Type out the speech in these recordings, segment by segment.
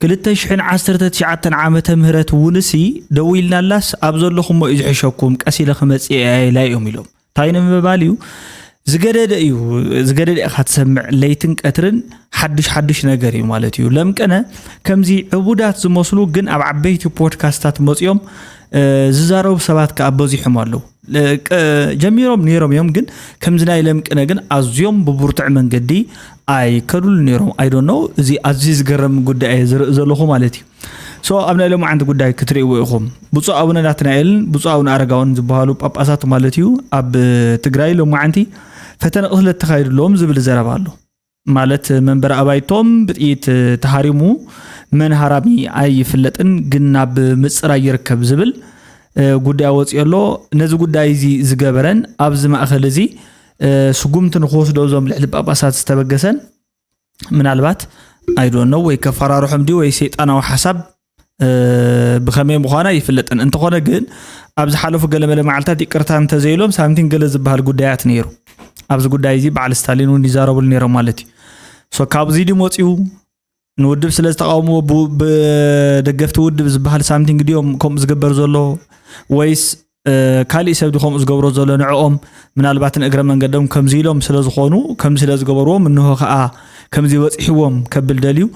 ክልተ ሽሕን ዓሰርተ ትሽዓተን ዓመተ ምህረት ውንሲ ደው ኢልናላስ ኣብ ዘለኹሞ እዩ ዝሕሸኩም ቀስ ኢለ ክመፅእ እየ ኢላ እዮም ኢሎም እንታይ ንምባል እዩ ዝገደደ እዩ ዝገደደ ኢኻ ትሰምዕ ለይትን ቀትርን ሓዱሽ ሓዱሽ ነገር እዩ ማለት እዩ ለምቀነ ከምዚ ዕቡዳት ዝመስሉ ግን ኣብ ዓበይቲ ፖድካስታት መፅኦም ዝዛረቡ ሰባት ከዓ በዚሖም ኣለዉ ጀሚሮም ነይሮም እዮም ግን ከምዚ ናይ ለምቅነ ግን ኣዝዮም ብብርቱዕ መንገዲ ኣይ ከዱሉ ነይሮም ኣይ ዶኖ እዚ ኣዝዩ ዝገረም ጉዳይ እየ ዝርኢ ዘለኹ ማለት እዩ ሶ ኣብ ናይ ሎማዓንቲ ጉዳይ ክትርእይዎ ኢኹም ብፁዕ ኣቡነ ናትናኤልን ብፁዕ ኣቡነ ኣረጋውን ዝበሃሉ ጳጳሳት ማለት እዩ ኣብ ትግራይ ሎማዓንቲ ፈተነ ቅትለት ተኻይድሎም ዝብል ዘረባ ኣሎ ማለት መንበሪ ኣባይቶም ብጥይት ተሃሪሙ መን ሃራሚ ኣይፍለጥን ግን ናብ ምፅራይ ይርከብ ዝብል ጉዳይ ወፂኦ ኣሎ ነዚ ጉዳይ እዚ ዝገበረን ኣብዚ ማእኸል እዚ ስጉምቲ ንክወስዶ እዞም ልዕሊ ጳጳሳት ዝተበገሰን ምናልባት ኣይዶኖ ወይ ከፈራርሖም ድዩ ወይ ሰይጣናዊ ሓሳብ ብኸመይ ምዃኑ ኣይፍለጥን እንተኾነ ግን ኣብ ዝሓለፉ ገለመለ መዓልታት ይቅርታ እንተዘይሎም ሳምቲን ገለ ዝበሃል ጉዳያት ነይሩ ኣብዚ ጉዳይ እዚ በዓል ስታሊን እውን ይዛረብሉ ነይሮም ማለት እዩ ሶ ካብዚ ድም ወፅኡ ንውድብ ስለ ዝተቃወምዎ ብደገፍቲ ውድብ ዝበሃል ሳምቲንግ ድኦም ከምኡ ዝግበር ዘሎ ወይስ ካሊእ ሰብ ከምኡ ዝገብሮ ዘሎ ንዕኦም ምናልባት ንእግረ መንገዶም ከምዚ ኢሎም ስለ ዝኾኑ ከምዚ ስለ ዝገበርዎም እንሆ ከዓ ከምዚ በፂሕዎም ከብል ደልዩ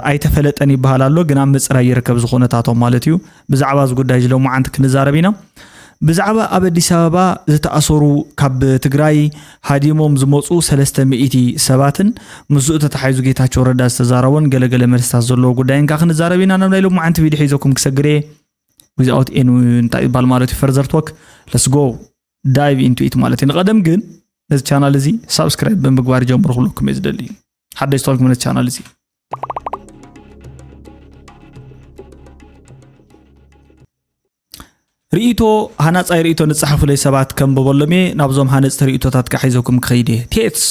ኣይተፈለጠን ይበሃል ኣሎ ግን ኣብ ምፅራይ ይርከብ ዝኹነታቶም ማለት እዩ ብዛዕባ እዚ ጉዳይ እዚ ሎማዓንቲ ክንዛረብ ኢና። ብዛዕባ ኣብ ኣዲስ ኣበባ ዝተኣሰሩ ካብ ትግራይ ሃዲሞም ዝመፁ ሰለስተ ሚእቲ ሰባትን ምስኡ ተታሓሒዙ ጌታቸው ረዳ ዝተዛረቦን ገለገለ መልስታት ዘለዎ ጉዳይን ከዓ ክንዛረብ ኢና ናብ ናይ ሎማዓንቲ ቪድዮ ሒዘኩም ክሰግር እየ ዊዝኣውት ኤን እንታይ ይባል ማለት እዩ ፈርዘር ቶክ ለስጎ ዳይቭ ኢንቱ ኢት ማለት እዩ ንቀደም ግን ነዚ ቻናል እዚ ሳብስክራይብ ብምግባር ጀምሩ ክብለኩም እየ ዝደሊ ሓደሽ ተዋልኩም ነት ቻናል እዚ ርእቶ ሃናፃይ ርእቶ ንፅሓፉለይ ሰባት ከምበበሎም እየ ናብዞም ሃነፅቲ ርእቶታት ከዓ ሒዘኩም ክኸይድ እየ ቴትስ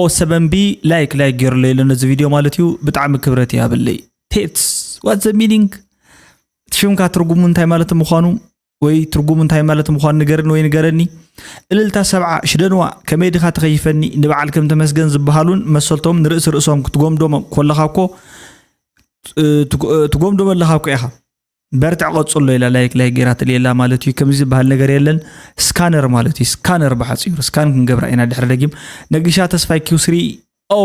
ኦ ሰበንቢ ላይክ ላይክ ገይሩለይ ኣሎ ነዚ ቪድዮ ማለት እዩ ብጣዕሚ ክብረት እያብለይ ቴትስ ዋት ዘ ሚኒንግ ሽምካ ትርጉሙ እንታይ ማለት ምዃኑ ወይ ትርጉሙ እንታይ ማለት ምዃኑ ንገርኒ ወይ ንገረኒ እልልታ ሰብዓ ሽደንዋ ከመይ ድኻ ተኸይፈኒ ንበዓል ከም ተመስገን ዝበሃሉን መሰልቶም ንርእሲ ርእሶም ክትጎምዶም ኮለኻ እኮ ትጎምዶም ኣለኻ እኮ ኢኻ በርትዕ ቀጽሎ ኢላ ላይክ ላይ ገይራ ትልየላ ማለት እዩ ከምዚ ዝበሃል ነገር የለን ስካነር ማለት እዩ ስካነር ብሓፂሩ ስካን ክንገብራ ኢና ድሕሪ ደጊም ነጊሻ ተስፋይ ኪውስሪ ኦ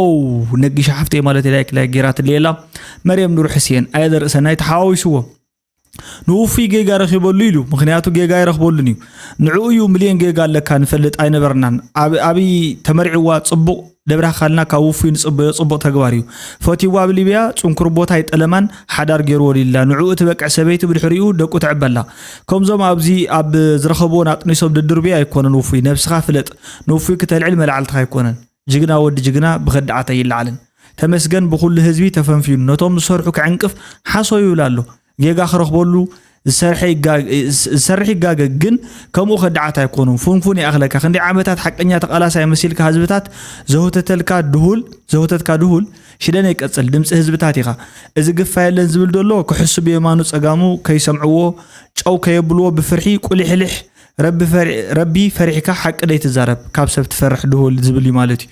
ነጊሻ ሓፍተይ ማለት ላይክ ላይ ገይራ ትልየላ መርየም ኑር ሕስየን ኣየለ ርእሰናይ ተሓዋዊስዎ ንውፉይ ጌጋ ረኺበሉ ኢሉ ምክንያቱ ጌጋ ይረኽበሉን እዩ ንዕኡ እዩ ሚልዮን ጌጋ ኣለካ ንፈልጥ ኣይነበርናን ኣብይ ተመርዕዋ ፅቡቕ ደብራኻልና ካብ ውፉይ ንፅበዮ ፅቡቕ ተግባር እዩ ፈትዋ ኣብ ሊብያ ፅንኩር ቦታ ይጠለማን ሓዳር ገይርዎ ሊላ ንዕኡ ትበቅዕ ሰበይቲ ብድሕሪኡ ደቁ ተዕበላ ከምዞም ኣብዚ ኣብ ዝረኸብዎን ኣጥኒሶም ድድርብዮ ኣይኮነን ውፉይ ነብስኻ ፍለጥ ንውፉይ ክተልዕል መላዕልትኻ ኣይኮነን ጅግና ወዲ ጅግና ብከዳዓት ኣይለዓልን ተመስገን ብኩሉ ህዝቢ ተፈንፊኑ ነቶም ዝሰርሑ ክዕንቅፍ ሓሶ ይብል ኣሎ ጌጋ ክረክበሉ ዝሰርሕ ይጋገ ግን ከምኡ ከዳዓት ኣይኮኑ ፉንፉን ይኣክለካ ክንደይ ዓመታት ሓቀኛ ተቃላሳይ መሲልካ ህዝብታት ዘውተተልካ ድሁል ዘውተትካ ድሁል ሽደን ይቀጽል ድምፂ ህዝብታት ኢካ እዚ ግፋ የለን ዝብል ዘሎ ክሕሱ ብየማኑ ጸጋሙ ከይሰምዕዎ ጨው ከየብልዎ ብፍርሒ ቁሊሕልሕ ረቢ ፈሪሕካ ሓቂ ደይትዛረብ ካብ ሰብ ትፈርሕ ድሁል ዝብል እዩ ማለት እዩ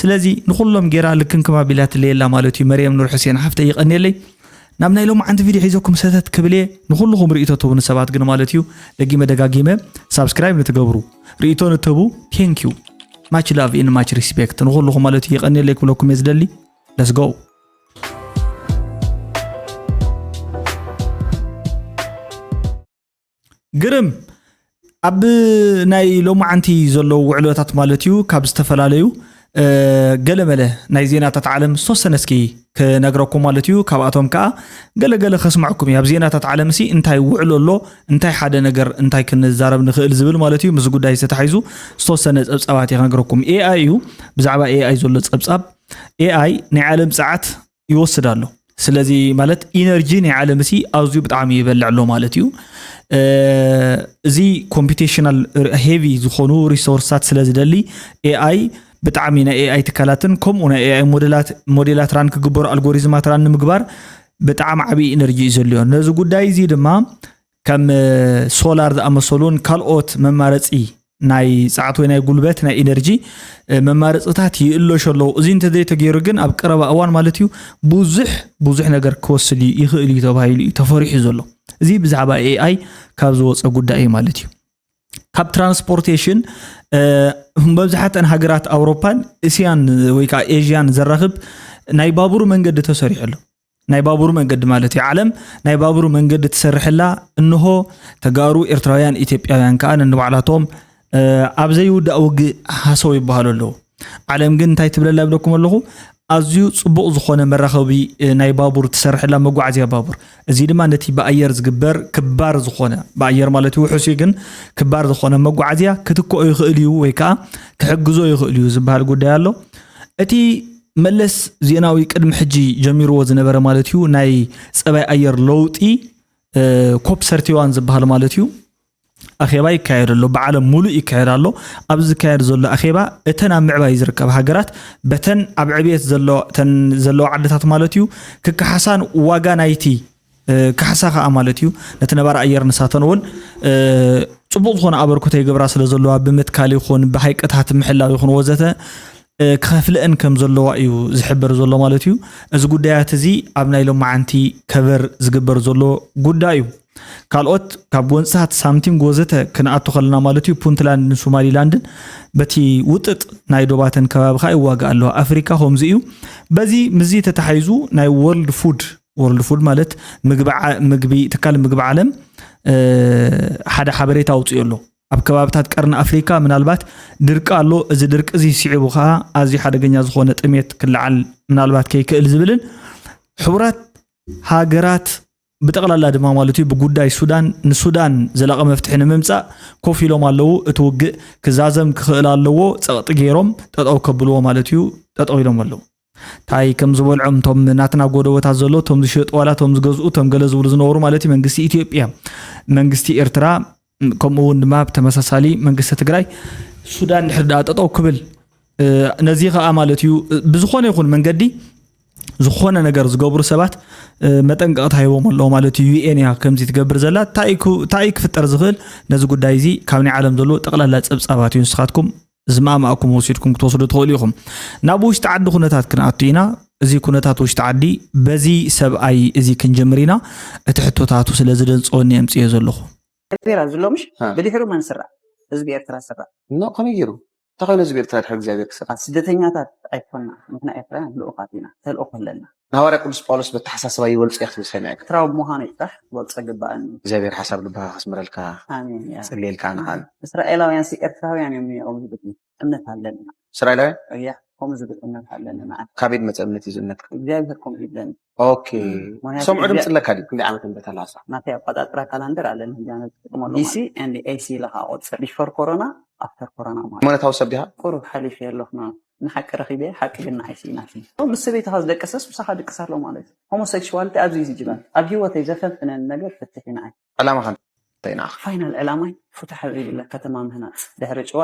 ስለዚ ንኩሎም ጌራ ልክንክም ኣቢላ ትለየላ ማለት እዩ መርየም ኑር ሕሴን ሓፍተይ ይቀንየለይ ናብ ናይ ሎም ዓንቲ ቪድዮ ሒዘኩም ሰተት ክብልየ ንኩልኩም ርእቶ ትህቡኒ ሰባት ግን ማለት እዩ ደጊመ ደጋጊመ ሳብስክራይብ ንትገብሩ ርእቶ ንትህቡ ቴንክ ዩ ማች ላቭ ኢን ማች ሪስፔክት ንኩልኩም ማለት እዩ የቀኒለይ ክብለኩም እየ ዝደሊ ለስ ጎ ግርም ኣብ ናይ ሎማዓንቲ ዘለዉ ውዕሎታት ማለት እዩ ካብ ዝተፈላለዩ ገለመለ ናይ ዜናታት ዓለም ዝተወሰነ እስኪ ክነግረኩም ማለት እዩ ካብኣቶም ከዓ ገለገለ ከስማዕኩም እዩ ኣብ ዜናታት ዓለም ሲ እንታይ ውዕሎ ኣሎ እንታይ ሓደ ነገር እንታይ ክንዛረብ ንኽእል ዝብል ማለት እዩ ምስ ጉዳይ ዝተታሒዙ ዝተወሰነ ፀብፃባት እዩ ክነግረኩም ኤኣይ እዩ ብዛዕባ ኤኣይ ዘሎ ፀብፃብ ኤኣይ ናይ ዓለም ፀዓት ይወስድ ኣሎ ስለዚ ማለት ኢነርጂ ናይ ዓለም ሲ ኣዝዩ ብጣዕሚ ይበልዕ ኣሎ ማለት እዩ እዚ ኮምፒቴሽናል ሄቪ ዝኾኑ ሪሶርስታት ስለ ዝደሊ ኤኣይ ብጣዕሚ ናይ ኤኣይ ትካላትን ከምኡ ናይ ኤኣይ ሞዴላት ሞዴላት ራን ክግበሩ ኣልጎሪዝማት ራን ንምግባር ብጣዕሚ ዓብዪ ኢነርጂ እዩ ዘልዮ ነዚ ጉዳይ እዚ ድማ ከም ሶላር ዝኣመሰሉን ካልኦት መማረፂ ናይ ፀዓት ወይ ናይ ጉልበት ናይ ኢነርጂ መማረፅታት ይእለሹ ኣለዉ እዚ እንተዘይተገይሩ ግን ኣብ ቀረባ እዋን ማለት እዩ ብዙሕ ብዙሕ ነገር ክወስድ ይኽእል እዩ ተባሂሉ እዩ ተፈሪሑ ዘሎ እዚ ብዛዕባ ኤኣይ ካብ ዝወፀ ጉዳይ እዩ ማለት እዩ ካብ ትራንስፖርቴሽን መብዛሕተን ሃገራት ኣውሮፓን እስያን ወይ ከዓ ኤዥያን ዘራኽብ ናይ ባቡር መንገዲ ተሰሪሑ ኣሎ ናይ ባቡር መንገዲ ማለት እዩ ዓለም ናይ ባቡር መንገዲ ትሰርሐላ እንሆ ተጋሩ ኤርትራውያን ኢትዮጵያውያን ከዓ ንንባዕላቶም ኣብ ዘይውዳእ ውግእ ሃሰው ይበሃሉ ኣለዉ ዓለም ግን እንታይ ትብለላ ይብለኩም ኣለኹ ኣዝዩ ፅቡቕ ዝኾነ መራኸቢ ናይ ባቡር ትሰርሐላ መጓዓዝያ ባቡር እዚ ድማ ነቲ ብኣየር ዝግበር ክባር ዝኾነ ብኣየር ማለት እዩ ውሑስ ግን ክባር ዝኾነ መጓዓዝያ ክትክኦ ይኽእል እዩ ወይ ከዓ ክሕግዞ ይኽእል እዩ ዝበሃል ጉዳይ ኣሎ እቲ መለስ ዜናዊ ቅድሚ ሕጂ ጀሚርዎ ዝነበረ ማለት እዩ ናይ ፀባይ ኣየር ለውጢ ኮፕ ሰርቲዋን ዝበሃል ማለት እዩ ኣኼባ ይካየድ ኣሎ ብዓለም ሙሉእ ይካየድ ኣሎ ኣብዚ ዝካየድ ዘሎ ኣኼባ እተን ኣብ ምዕባይ ዝርከብ ሃገራት በተን ኣብ ዕብየት ዘለዋ ዓድታት ማለት እዩ ክከሓሳን ዋጋ ናይቲ ካሕሳ ከኣ ማለት እዩ ነቲ ነባሪ ኣየር ንሳተን እውን ፅቡቕ ዝኾነ ኣበርክቶ ይገብራ ስለ ዘለዋ ብምትካል ይኹን ብሃይቅታት ምሕላው ይኹን ወዘተ ክኸፍልአን ከም ዘለዋ እዩ ዝሕበር ዘሎ ማለት እዩ እዚ ጉዳያት እዚ ኣብ ናይ ሎማዓንቲ ከበር ዝግበር ዘሎ ጉዳይ እዩ ካልኦት ካብ ጎንፅታት ሳምቲንግ ወዘተ ክንኣቱ ከለና ማለት እዩ ፑንትላንድን ሶማሊላንድን በቲ ውጥጥ ናይ ዶባተን ከባቢ ከዓ ይዋጋእ ኣለዋ ኣፍሪካ ከምዚ እዩ በዚ ምዚ ተታሓይዙ ናይ ወርልድ ፉድ ወርልድ ፉድ ማለት ምግቢ ትካል ምግቢ ዓለም ሓደ ሓበሬታ ኣውፅኦ ኣሎ ኣብ ከባብታት ቀርኒ ኣፍሪካ ምናልባት ድርቂ ኣሎ እዚ ድርቂ እዚ ስዒቡ ከዓ ኣዝዩ ሓደገኛ ዝኾነ ጥሜት ክለዓል ምናልባት ከይክእል ዝብልን ሕቡራት ሃገራት ብጠቕላላ ድማ ማለት እዩ ብጉዳይ ሱዳን ንሱዳን ዘላቐ መፍትሒ ንምምፃእ ኮፍ ኢሎም ኣለዉ እቲ ውግእ ክዛዘም ክኽእል ኣለዎ ፀቕጢ ገይሮም ጠጠው ከብልዎ ማለት እዩ ጠጠው ኢሎም ኣለዉ ታይ ከም ዝበልዖም ቶም ናትና ጎደቦታት ዘሎ ቶም ዝሸጡ ዋላ ቶም ዝገዝኡ ቶም ገለ ዝብሉ ዝነበሩ ማለት እዩ መንግስቲ ኢትዮጵያ መንግስቲ ኤርትራ ከምኡ እውን ድማ ብተመሳሳሊ መንግስቲ ትግራይ ሱዳን ድሕር ድኣ ጠጠው ክብል ነዚ ከዓ ማለት እዩ ብዝኾነ ይኹን መንገዲ ዝኾነ ነገር ዝገብሩ ሰባት መጠንቀቕታ ሂቦም ኣለዎ ማለት እዩ ዩኤን እያ ከምዚ ትገብር ዘላ እንታይ ክፍጠር ዝኽእል ነዚ ጉዳይ እዚ ካብ ናይ ዓለም ዘሎ ጠቕላላ ፀብፃባት እዩ ንስኻትኩም ዝማእማእኩም ወሲድኩም ክትወስዱ ትኽእሉ ኢኹም። ናብ ውሽጢ ዓዲ ኩነታት ክንኣቱ ኢና። እዚ ኩነታት ውሽጢ ዓዲ በዚ ሰብኣይ እዚ ክንጀምር ኢና። እቲ ሕቶታቱ ስለ ዝደንጸወኒ ኣምጽዮ ዘለኹ። ኤርትራ ዝሎ ምሽ ብድሕሩ መን ስራ ህዝቢ ኤርትራ ስራ ኖ ከመይ ገይሩ እንታይ ኮይኑ ህዝቢ ኤርትራ ድሕሪ እግዚኣብሔር ክስራ ስደተኛታት ኣይኮና ንሕና ኤርትራውያን ልኡኻት ኢና ተልእኾ ኣለና ንሃዋርያ ቅዱስ ጳውሎስ በተሓሳስባ ይበልጾ እያ ክትብል ሰሚዐ ኤርትራዊ ብምዃነይ ጥራሕ ክበልጾ ይግባኣኒ እግዚኣብሔር ሓሳብ ልብኻ ከስምረልካ ኣሜን እያ ጽልየልካ ንዓል እስራኤላውያን ሲ ኤርትራውያን እዮም ነይሮም ዝብል እምነት ኣለኒ እስራኤላውያን እያ ከምኡ ዝብል እምነት ኣለኒ ንዓል ካበይ ዝመጸ እምነት እዩ ዝእምነትካ እግዚኣብሔር ከምኡ ይብለኒ ኦኬ ምክንያቱ ሰምዑ ድምፂ ኣለካ ድዩ ክንደይ ዓመት እንደ ተላሳ ናተይ ኣቆጣጥራ ካላንደር ኣለኒ ህጃነ ዝጥቀመሉ ዲሲ ኤንድ ኤሲ ኢለካ ቆፅር ቢፎር ኮሮና ኣፍተር ኮሮና ማለት ሃይማኖታዊ ሰብ ዲኻ ቁሩብ ሓሊፈ ኣለኹ ማለት ንሓቂ ረኺበ ሓቂ ግን ንዓይ ስኢናትኒ ምስ ሰበይትኻ ዝደቀሰስ ምሳኻ ድቅስ ኣሎ ማለት ሆሞሴክሽዋልቲ ኣብዚ ዝጅባል ኣብ ሂወተይ ዘፈንፍነኒ ነገር ፍትሕ እዩ ንዓይ ዕላማኻ እንታይ ንዓኻ? ፋይናል ዕላማይ ፉትሕ ኣብ ዘይብላ ከተማ ምህናጽ ድሕሪ ጭዋ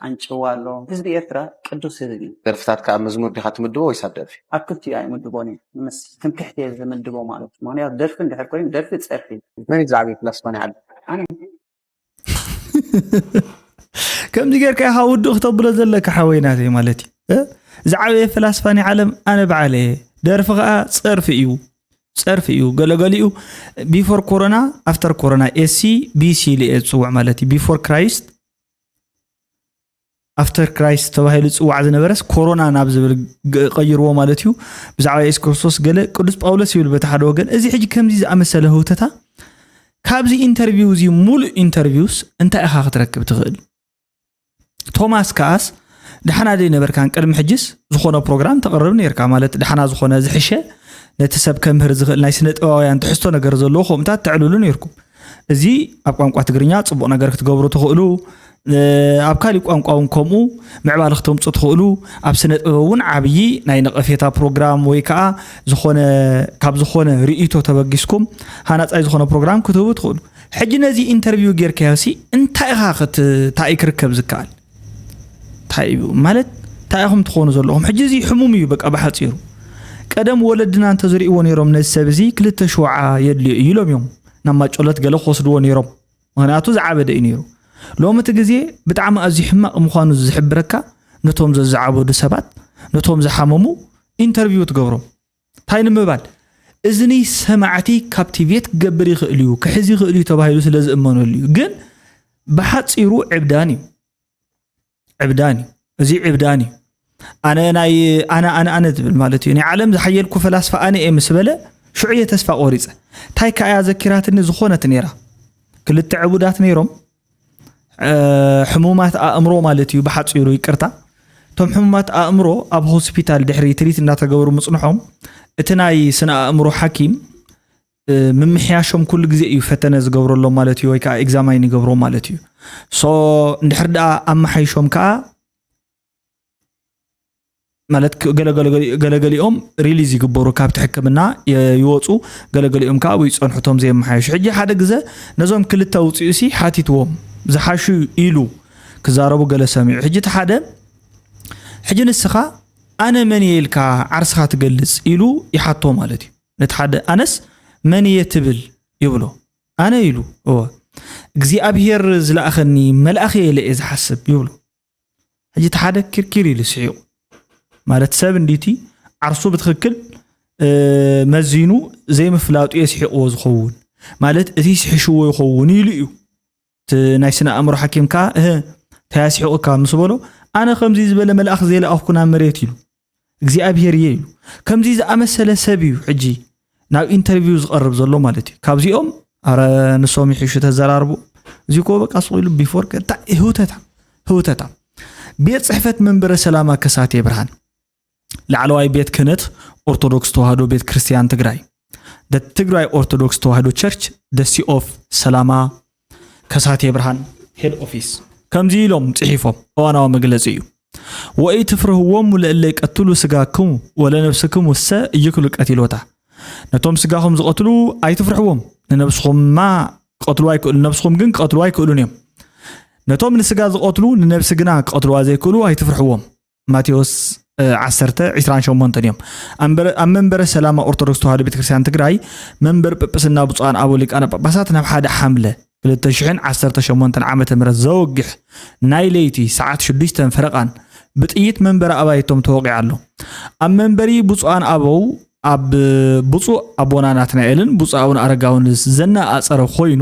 ኣንጭዋ ኣሎ ህዝቢ ኤርትራ ቅዱስ ህዝቢ እዩ። ደርፍታትካ ኣብ መዝሙር ዲኻ ትምድቦ ወይስ ኣብ ደርፊ? ኣብ ክልቲኡ ኣይምድቦን እየ ምስ ትምክሕቲ እየ ዝምድቦ ማለት ምኽንያቱ ደርፊ እንድሕር ኮይኑ ደርፊ ጸርፊ እዩ። መን እዩ ዝዓበየ ፕላስ መን ይዓቢ? ኣነ። ከምዚ ጌርካ ኢኻ ውድእ ክተብሎ ዘለካ ሓወይ ናተይ ማለት እዩ ዝዓበየ ፍላስፋ ናይ ዓለም ኣነ በዓለ እየ ደርፊ ከዓ ፀርፊ እዩ ፀርፊ እዩ ገለገሊኡ ቢፎር ኮሮና ኣፍተር ኮሮና ኤሲ ቢሲ ኢለ እየ ዝፅውዕ ማለት እዩ ቢፎር ክራይስት ኣፍተር ክራይስት ተባሂሉ ዝፅዋዕ ዝነበረስ ኮሮና ናብ ዝብል ቀይርዎ ማለት እዩ ብዛዕባ የሱስ ክርስቶስ ገለ ቅዱስ ጳውሎስ ይብል በቲ ሓደ ወገን እዚ ሕጂ ከምዚ ዝኣመሰለ ህውተታ ካብዚ ኢንተርቪው እዚ ሙሉእ ኢንተርቪውስ እንታይ ኢኻ ክትረክብ ትኽእል ቶማስ ከኣስ ድሓና ዘይነበርካን ቅድሚ ሕጅስ ዝኾነ ፕሮግራም ተቕርብ ነርካ ማለት ድሓና ዝኾነ ዝሕሸ ነቲ ሰብ ከምህር ዝኽእል ናይ ስነ ጥበባውያን ትሕዝቶ ነገር ዘለዎ ከምኡታት ተዕልሉ ነርኩም እዚ ኣብ ቋንቋ ትግርኛ ጽቡቕ ነገር ክትገብሩ ትኽእሉ ኣብ ካሊእ ቋንቋ እውን ከምኡ ምዕባለ ክተምፁ ትኽእሉ ኣብ ስነ ጥበብ እውን ዓብዪ ናይ ነቐፌታ ፕሮግራም ወይ ከዓ ዝኾነ ካብ ዝኾነ ርእይቶ ተበጊስኩም ሃናፃይ ዝኾነ ፕሮግራም ክትህቡ ትኽእሉ ሕጂ ነዚ ኢንተርቪው ጌርካዮ ሲ እንታይ ኢኻ እንታይ ክርከብ ዝከኣል ታይ እዩ ማለት ታይ ኢኹም ትኾኑ ዘለኹም ሕጂ እዚ ሕሙም እዩ በቃ ብሓፂሩ ቀደም ወለድና እንተዝሪእዎ ነይሮም ነዚ ሰብ እዚ ክልተ ሽውዓ የድልዮ እዩ ኢሎም እዮም ናብ ማጮለት ገለ ክወስድዎ ነይሮም ምክንያቱ ዝዓበደ እዩ ነይሩ ሎሚ እቲ ግዜ ብጣዕሚ ኣዝዩ ሕማቕ ምዃኑ ዝሕብረካ ነቶም ዘዝዓበዱ ሰባት ነቶም ዝሓመሙ ኢንተርቪው ትገብሮም ታይ ንምባል እዝኒ ሰማዕቲ ካፕቲቬት ክገብር ይኽእል እዩ ክሕዝ ይኽእል እዩ ተባሂሉ ስለ ዝእመነሉ እዩ ግን ብሓፂሩ ዕብዳን እዩ ዕብዳን እዩ እዚ ዕብዳን እዩ ኣነ ናይ ኣነ ኣነ ኣነ ዝብል ማለት እዩ ናይ ዓለም ዝሓየልኩ ፈላስፋ ኣነ እየ ምስ በለ ሽዑ እየ ተስፋ ቆሪፀ እንታይ ከኣያ ዘኪራትኒ ዝኾነት ነይራ ክልተ ዕቡዳት ነይሮም ሕሙማት ኣእምሮ ማለት እዩ ብሓፂሩ ይቅርታ እቶም ሕሙማት ኣእምሮ ኣብ ሆስፒታል ድሕሪ ትሪት እናተገበሩ ምፅንሖም እቲ ናይ ስነ ኣእምሮ ሓኪም ምምሕያሾም ኩሉ ግዜ እዩ ፈተነ ዝገብረሎም ማለት እዩ ወይ ከዓ ኤግዛማይን ይገብሮም ማለት እዩ ሶ እንድሕር ደኣ ኣመሓይሾም ከዓ ማለት ገለገሊኦም ሪሊዝ ይግበሩ ካብቲ ሕክምና ይወፁ ገለገሊኦም ከዓ ኣብኡ ይፀንሑ እቶም ዘየመሓየሹ ሕጂ ሓደ ግዘ ነዞም ክልተ ውፅኡ ሲ ሓቲትዎም ዝሓሹ ኢሉ ክዛረቡ ገለ ሰሚዑ ሕጂ እቲ ሓደ ሕጂ ንስኻ ኣነ መን እየ ኢልካ ዓርስኻ ትገልፅ ኢሉ ይሓቶ ማለት እዩ ነቲ ሓደ ኣነስ መን እየ ትብል ይብሎ ኣነ ኢሉ እወ እግዚኣብሄር ዝለኣኸኒ መልኣኽ እየ ኢለ እየ ዝሓስብ ይብሉ ሕጂ እቲ ሓደ ኪርኪር ኢሉ ስሒቑ ማለት ሰብ እንዲቲ ዓርሱ ብትኽክል መዚኑ ዘይምፍላጡ የስሒቕዎ ዝኸውን ማለት እቲ ስሒሽዎ ይኸውን ኢሉ እዩ ናይ ስነ ኣእምሮ ሓኪም ከዓ እንታይ ኣስሒቑካ ምስ በሎ ኣነ ከምዚ ዝበለ መልኣኽ ዘይለኣኽኩ ናብ መሬት ኢሉ እግዚኣብሄር እየ እዩ ከምዚ ዝኣመሰለ ሰብ እዩ ሕጂ ናብ ኢንተርቪው ዝቐርብ ዘሎ ማለት እዩ ካብዚኦም ኣረ ንሶም ይሕሹ ተዘራርቡ እዚ ኮ በቃ ስቑ ኢሉ ቢፎር እንታይ ህውተታ ህውተታ ቤት ፅሕፈት መንበረ ሰላማ ከሳቴ ብርሃን ላዕለዋይ ቤት ክህነት ኦርቶዶክስ ተዋህዶ ቤት ክርስቲያን ትግራይ ትግራይ ኦርቶዶክስ ተዋህዶ ቸርች ደሲ ኦፍ ሰላማ ከሳቴ ብርሃን ሄድ ኦፊስ ከምዚ ኢሎም ጽሒፎም እዋናዊ መግለጺ እዩ። ወኢትፍርህዎሙ ለእለ ይቀትሉ ስጋክሙ ወለነብስክሙሰ ኢይክሉ ቀቲሎታ ነቶም ስጋኹም ዝቐትሉ ኣይትፍርሕዎም ንነብስኹማ ክቐትልዋ ይክእሉ ነብስኹም ግን ክቐትልዋ ኣይክእሉን እዮም ነቶም ንስጋ ዝቐትሉ ንነብሲ ግና ክቐትልዋ ዘይክእሉ ኣይትፍርሕዎም ማቴዎስ ዓሰርተ ዒስራን ሸሞንተን እዮም ኣብ መንበረ ሰላማ ኦርቶዶክስ ተዋህዶ ቤተክርስትያን ትግራይ መንበር ጵጵስና ብፁዓን ኣቦ ሊቃነ ጳጳሳት ናብ ሓደ ሓምለ 2018 ዓ ም ዘወግሕ ናይ ለይቲ ሰዓት 6 ፈረቓን ብጥይት መንበረ ኣባይቶም ተወቂዑ ኣሎ ኣብ መንበሪ ብፁዓን ኣበው ኣብ ብፁዕ ኣቦና ናትናኤልን ብፁዕ ኣቡነ ኣረጋውን ዘነኣፀረ ኮይኑ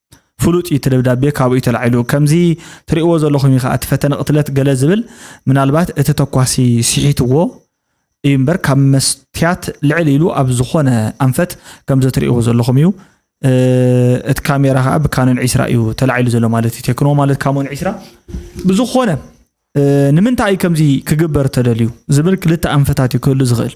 ፍሉጥ እዩ እቲ ደብዳቤ ካብኡ እዩ ተላዒሉ ከምዚ ትርእዎ ዘለኹም እዩ ከዓ እቲ ፈተነ ቅትለት ገለ ዝብል ምናልባት እቲ ተኳሲ ስሒትዎ እዩ እምበር ካብ መስትያት ልዕል ኢሉ ኣብ ዝኾነ ኣንፈት ከምዚ ትርእዎ ዘለኹም እዩ እቲ ካሜራ ከዓ ብካኖን ዒስራ እዩ ተላዒሉ ዘሎ ማለት እዩ ቴክኖ ማለት ካሞን ዒስራ ብዝኾነ ንምንታይ እዩ ከምዚ ክግበር ተደልዩ ዝብል ክልተ ኣንፈታት እዩ ክህሉ ዝኽእል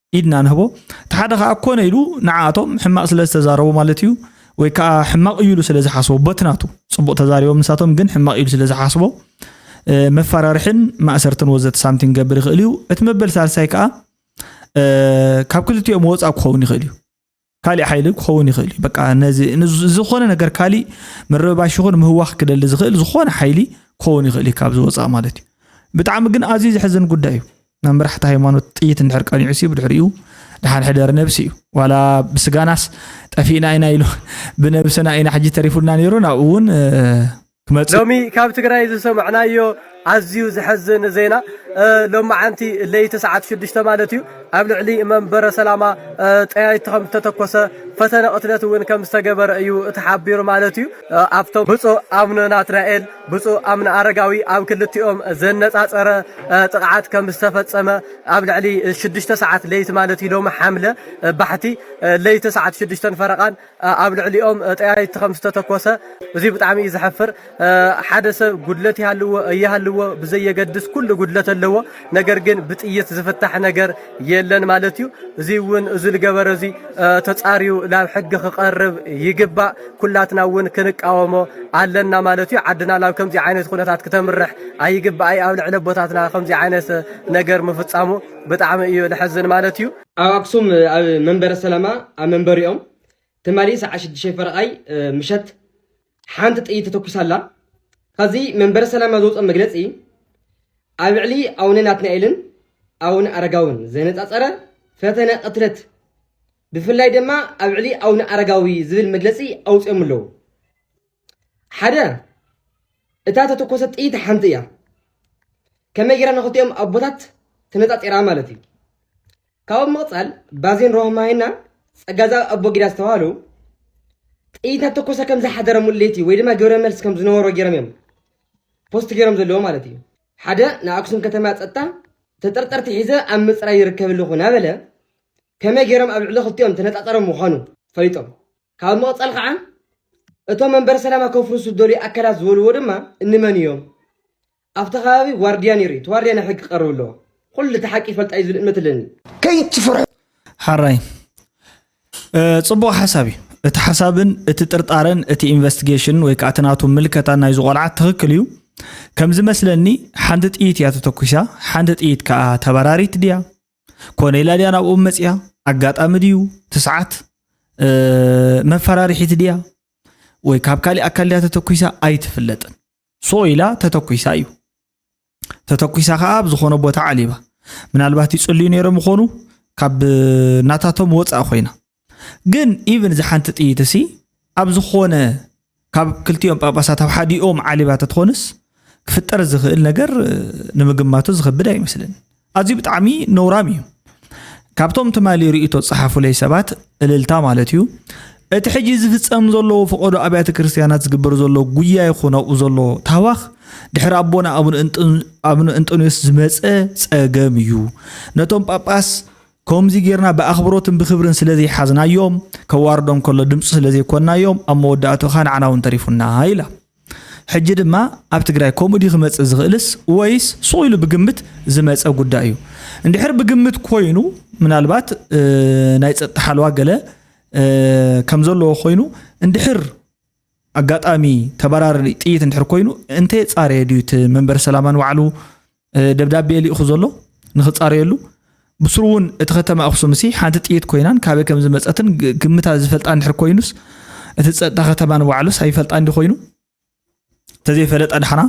ኢድና ንህቦ እቲ ሓደ ከዓ ኮነ ኢሉ ንዓኣቶም ሕማቅ ስለ ዝተዛረቡ ማለት እዩ ወይ ከዓ ሕማቅ እዩ ኢሉ ስለ ዝሓስቦ በትናቱ ፅቡቅ ተዛሪቦም ንሳቶም ግን ሕማቅ ኢሉ ስለ ዝሓስቦ መፈራርሕን ማእሰርትን ወዘተ ሳምቲን ክገብር ይኽእል እዩ እቲ መበል ሳልሳይ ከዓ ካብ ክልቲኦም ወፃእ ክኸውን ይኽእል እዩ ካሊእ ሓይሊ ክኸውን ይኽእል እዩ በቃ ነዚ ዝኾነ ነገር ካሊእ ምርብባሽ ይኹን ምህዋኽ ክደሊ ዝኽእል ዝኾነ ሓይሊ ክኸውን ይኽእል እዩ ካብዚ ወፃእ ማለት እዩ ብጣዕሚ ግን ኣዝዩ ዘሕዝን ጉዳይ እዩ ናብ መራሕቲ ሃይማኖት ጥይት እንድሕር ቀኒዑ ሲ ብድሕሪኡ ድሓን ሕደር ነብሲ እዩ ዋላ ብስጋናስ ጠፊእና ኢና ኢሉ ብነብስና ኢና ሕጂ ተሪፉና ነይሩ ናብኡ እውን ክመጽእ ሎሚ ካብ ትግራይ ዝሰማዕናዮ ኣዝዩ ዘሐዝን ዜና ሎማዓንቲ ለይቲ ሰዓት ሽዱሽተ ማለት እዩ ኣብ ልዕሊ መንበረ ሰላማ ጠያይቲ ከም ዝተተኮሰ ፈተነ ቅትለት እውን ከም ዝተገበረ እዩ ተሓቢሩ ማለት እዩ ኣብቶም ብፁእ ኣቡነ ናትናኤል ብፁእ ኣቡነ ኣረጋዊ ኣብ ክልቲኦም ዘነፃፀረ ጥቕዓት ከም ዝተፈፀመ ኣብ ልዕሊ ሽዱሽተ ሰዓት ለይቲ ማለት እዩ ሎሚ ሓምለ ባሕቲ ለይቲ ሰዓት ሽዱሽተን ፈረቓን ኣብ ልዕሊኦም ጠያይቲ ከም ዝተተኮሰ እዚ ብጣዕሚ እዩ ዘሐፍር። ሓደ ሰብ ጉድለት ይሃልዎ እይሃልዎ ብዘየገድስ ኩሉ ጉድለት ኣለዎ። ነገር ግን ብጥይት ዝፍታሕ ነገር የለን ማለት እዩ። እዚ እውን እዚ ዝገበረ እዚ ተፃርዩ ናብ ሕጊ ክቐርብ ይግባእ። ኩላትና እውን ክንቃወሞ ኣለና ማለት እዩ። ዓድና ናብ ከምዚ ዓይነት ኩነታት ክተምርሕ ኣይግባኣይ። ኣብ ልዕሊ ኣቦታትና ከምዚ ዓይነት ነገር ምፍፃሙ ብጣዕሚ እዩ ልሕዝን ማለት እዩ። ኣብ ኣክሱም ኣብ መንበረ ሰላማ ኣብ መንበሪኦም ትማሊ ሰዓት ሽዱሽተ ፈረቓይ ምሸት ሓንቲ ጥይት ተተኩሳላ ካብዚ መንበረ ሰላማ ዝወፀ መግለፂ ኣብ ልዕሊ ኣቡነ ናትናኤልን ኣቡነ ኣረጋውን ዘነፃፀረ ፈተነ ቅትለት ብፍላይ ድማ ኣብ ልዕሊ ኣቡነ ኣረጋዊ ዝብል መግለፂ ኣውፅኦም ኣለዉ ሓደ እታ ተተኮሰት ጥይት ሓንቲ እያ ከመይ ጌራ ንክልቲኦም ኣቦታት ተነፃፂራ ማለት እዩ ካብኡ ምቕፃል ባዜን ሮህማይና ፀጋዛ ኣቦ ጊዳ ዝተባሃሉ ጥይት ተኮሰ ከም ዝሓደረ ሙሉ ለይቲ ወይ ድማ ግብረ መልሲ ከም ዝነበሮ ገይሮም እዮም ፖስት ገይሮም ዘለዎ ማለት እዩ ሓደ ንኣክሱም ከተማ ፀጥታ ተጠርጠርቲ ሒዘ ኣብ ምፅራይ ይርከብ ኣለኹ እናበለ ከመይ ገይሮም ኣብ ልዕሊ ክልቲኦም ተነፃፀሮም ምዃኑ ፈሊጦም ካብ ምቕጻል ኸዓ እቶም መንበረ ሰላማ ከፍርሱ ዝደልዩ ኣካላት ዝበልዎ ድማ እንመን እዮም? ኣብቲ ከባቢ ዋርድያ ነይሩ እዩ፣ እቲ ዋርድያ ናብ ሕጊ ክቐርብ ኣለዎ። ኹሉ እቲ ሓቂ ይፈልጣ እዩ ዝብል እምነት ኣለኒ። ከይትፍርሑ። ሐራይ ጽቡቅ ሓሳብ እዩ እቲ ሓሳብን እቲ ጥርጣረን እቲ ኢንቨስቲጌሽን ወይ ከዓ እቲ ናቱ ምልከታ ናይዚ ቆልዓ ትክክል እዩ ከምዝመስለኒ ሓንቲ ጥይት እያ ተተኩሳ ሓንቲ ጥይት ከዓ ተበራሪት ድያ ኮነይላ ድያ ናብኦም መፅያ ኣጋጣሚ ድዩ ትስዓት መፈራርሒት ድያ ወይ ካብ ካሊእ ኣካል ድያ ተተኩሳ ኣይትፍለጥን ሶ ኢላ ተተኩሳ እዩ ተተኩሳ ከዓ ኣብ ዝኾነ ቦታ ዓሊባ ምናልባት ይፅልዩ ነይሮም ይኾኑ ካብ ናታቶም ወፃእ ኮይና ግን ኢቭን እዚ ሓንቲ ጥይት እሲ ኣብ ዝኾነ ካብ ክልቲኦም ጳጳሳት ኣብ ሓዲኦም ዓሊባ ተትኾንስ ክፍጠር ዝኽእል ነገር ንምግማቱ ዝኸብድ ኣይመስልን ኣዝዩ ብጣዕሚ ነውራም እዩ ካብቶም ትማሊ ርእቶ ፀሓፉለይ ሰባት እልልታ ማለት እዩ እቲ ሕጂ ዝፍፀም ዘለዎ ፈቐዶ ኣብያተ ክርስትያናት ዝግበር ዘሎ ጉያ ይኹን ኣብኡ ዘሎ ታዋኽ ድሕሪ ኣቦና ኣቡነ እንጦንዮስ ዝመፀ ፀገም እዩ ነቶም ጳጳስ ከምዚ ጌርና ብኣኽብሮትን ብኽብርን ስለ ዘይሓዝናዮ፣ ከዋርዶም ከሎ ድምጹ ስለ ዘይኮንናዮ፣ ኣብ መወዳእትኡ ከኣ ንዓና እውን ተሪፉና ኢላ። ሕጂ ድማ ኣብ ትግራይ ከምኡ ድዩ ክመጽእ ዝኽእልስ ወይስ ሱቕ ኢሉ ብግምት ዝመጸ ጉዳይ እዩ? እንድሕር ብግምት ኮይኑ ምናልባት ናይ ጸጥታ ሓለዋ ገለ ከም ዘለዎ ኮይኑ እንድሕር ኣጋጣሚ ተበራሪ ጥይት እንድሕር ኮይኑ እንተየጻረየ ድዩ እቲ መንበሪ ሰላማ ንባዕሉ ደብዳቤ ልኢኹ ዘሎ ንክፃረየሉ ብስሩ እውን እቲ ከተማ ኣክሱም ሲ ሓንቲ ጥይት ኮይናን ካበይ ከም ዝመፀትን ግምታ ዝፈልጣ እንድሕር ኮይኑስ እቲ ፀጥታ ከተማ ንባዕሉስ ኣይፈልጣ እንዲ ኮይኑ ተዘይፈለጠ ዳሕና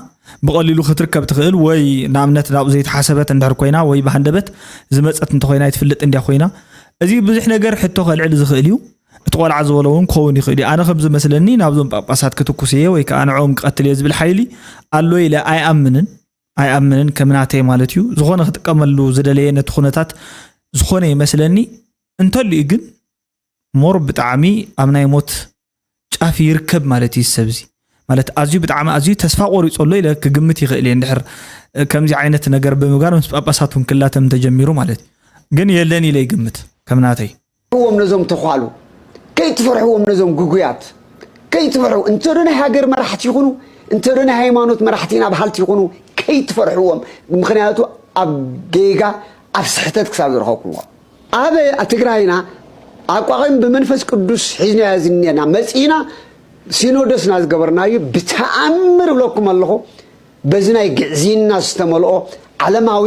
ብቐሊሉ ክትርከብ ትኽእል ወይ ንኣብነት ናብኡ ዘይተሓሰበት እንድሕር ኮይና ወይ ብሃንደበት ዝመፀት እንተኮይና ይትፍልጥ እንዲያ ኮይና እዚ ብዙሕ ነገር ሕቶ ከልዕል ዝኽእል እዩ እቲ ቆልዓ ዝበሎ እውን ክኸውን ይኽእል እዩ ኣነ ከም ዝመስለኒ ናብዞም ጳጳሳት ክትኩስ እየ ወይ ከዓ ንዕኦም ክቐትል እየ ዝብል ሓይሊ ኣሎ ኢለ ኣይኣምንን ኣይኣምንን ከም ናተይ ማለት እዩ ዝኾነ ክጥቀመሉ ዝደለየ ነቲ ኩነታት ዝኾነ ይመስለኒ እንተልዩ ግን ሞር ብጣዕሚ ኣብ ናይ ሞት ጫፍ ይርከብ ማለት እዩ ሰብዚ ማለት ኣዝዩ ብጣዕሚ ኣዝዩ ተስፋ ቆሪፆ ኣሎ ኢለ ክግምት ይኽእል እየ እንድሕር ከምዚ ዓይነት ነገር ብምግባር ምስ ጳጳሳት እውን ክላተም ተጀሚሩ ማለት እዩ ግን የለን ኢለ ይግምት ከም ናተይ ፍርሕዎም ነዞም ተዃሉ ከይትፈርሕዎም ነዞም ግጉያት ከይትፈርሑ እንተ ዶ ናይ ሃገር መራሕቲ ይኹኑ እንተ ዶ ናይ ሃይማኖት መራሕቲ ኢና በሃልቲ ይኹኑ ከይትፈርሕዎም ምክንያቱ ኣብ ጌጋ ኣብ ስሕተት ክሳብ ዝረኸብኩምዎ ኣብ ትግራይና ኣቋቒም ብመንፈስ ቅዱስ ሒዝናዮ ዝኔና መፂእና ሲኖዶስና ዝገበርናዩ ብተኣምር እብለኩም ኣለኹ በዚ ናይ ግዕዝይና ዝተመልኦ ዓለማዊ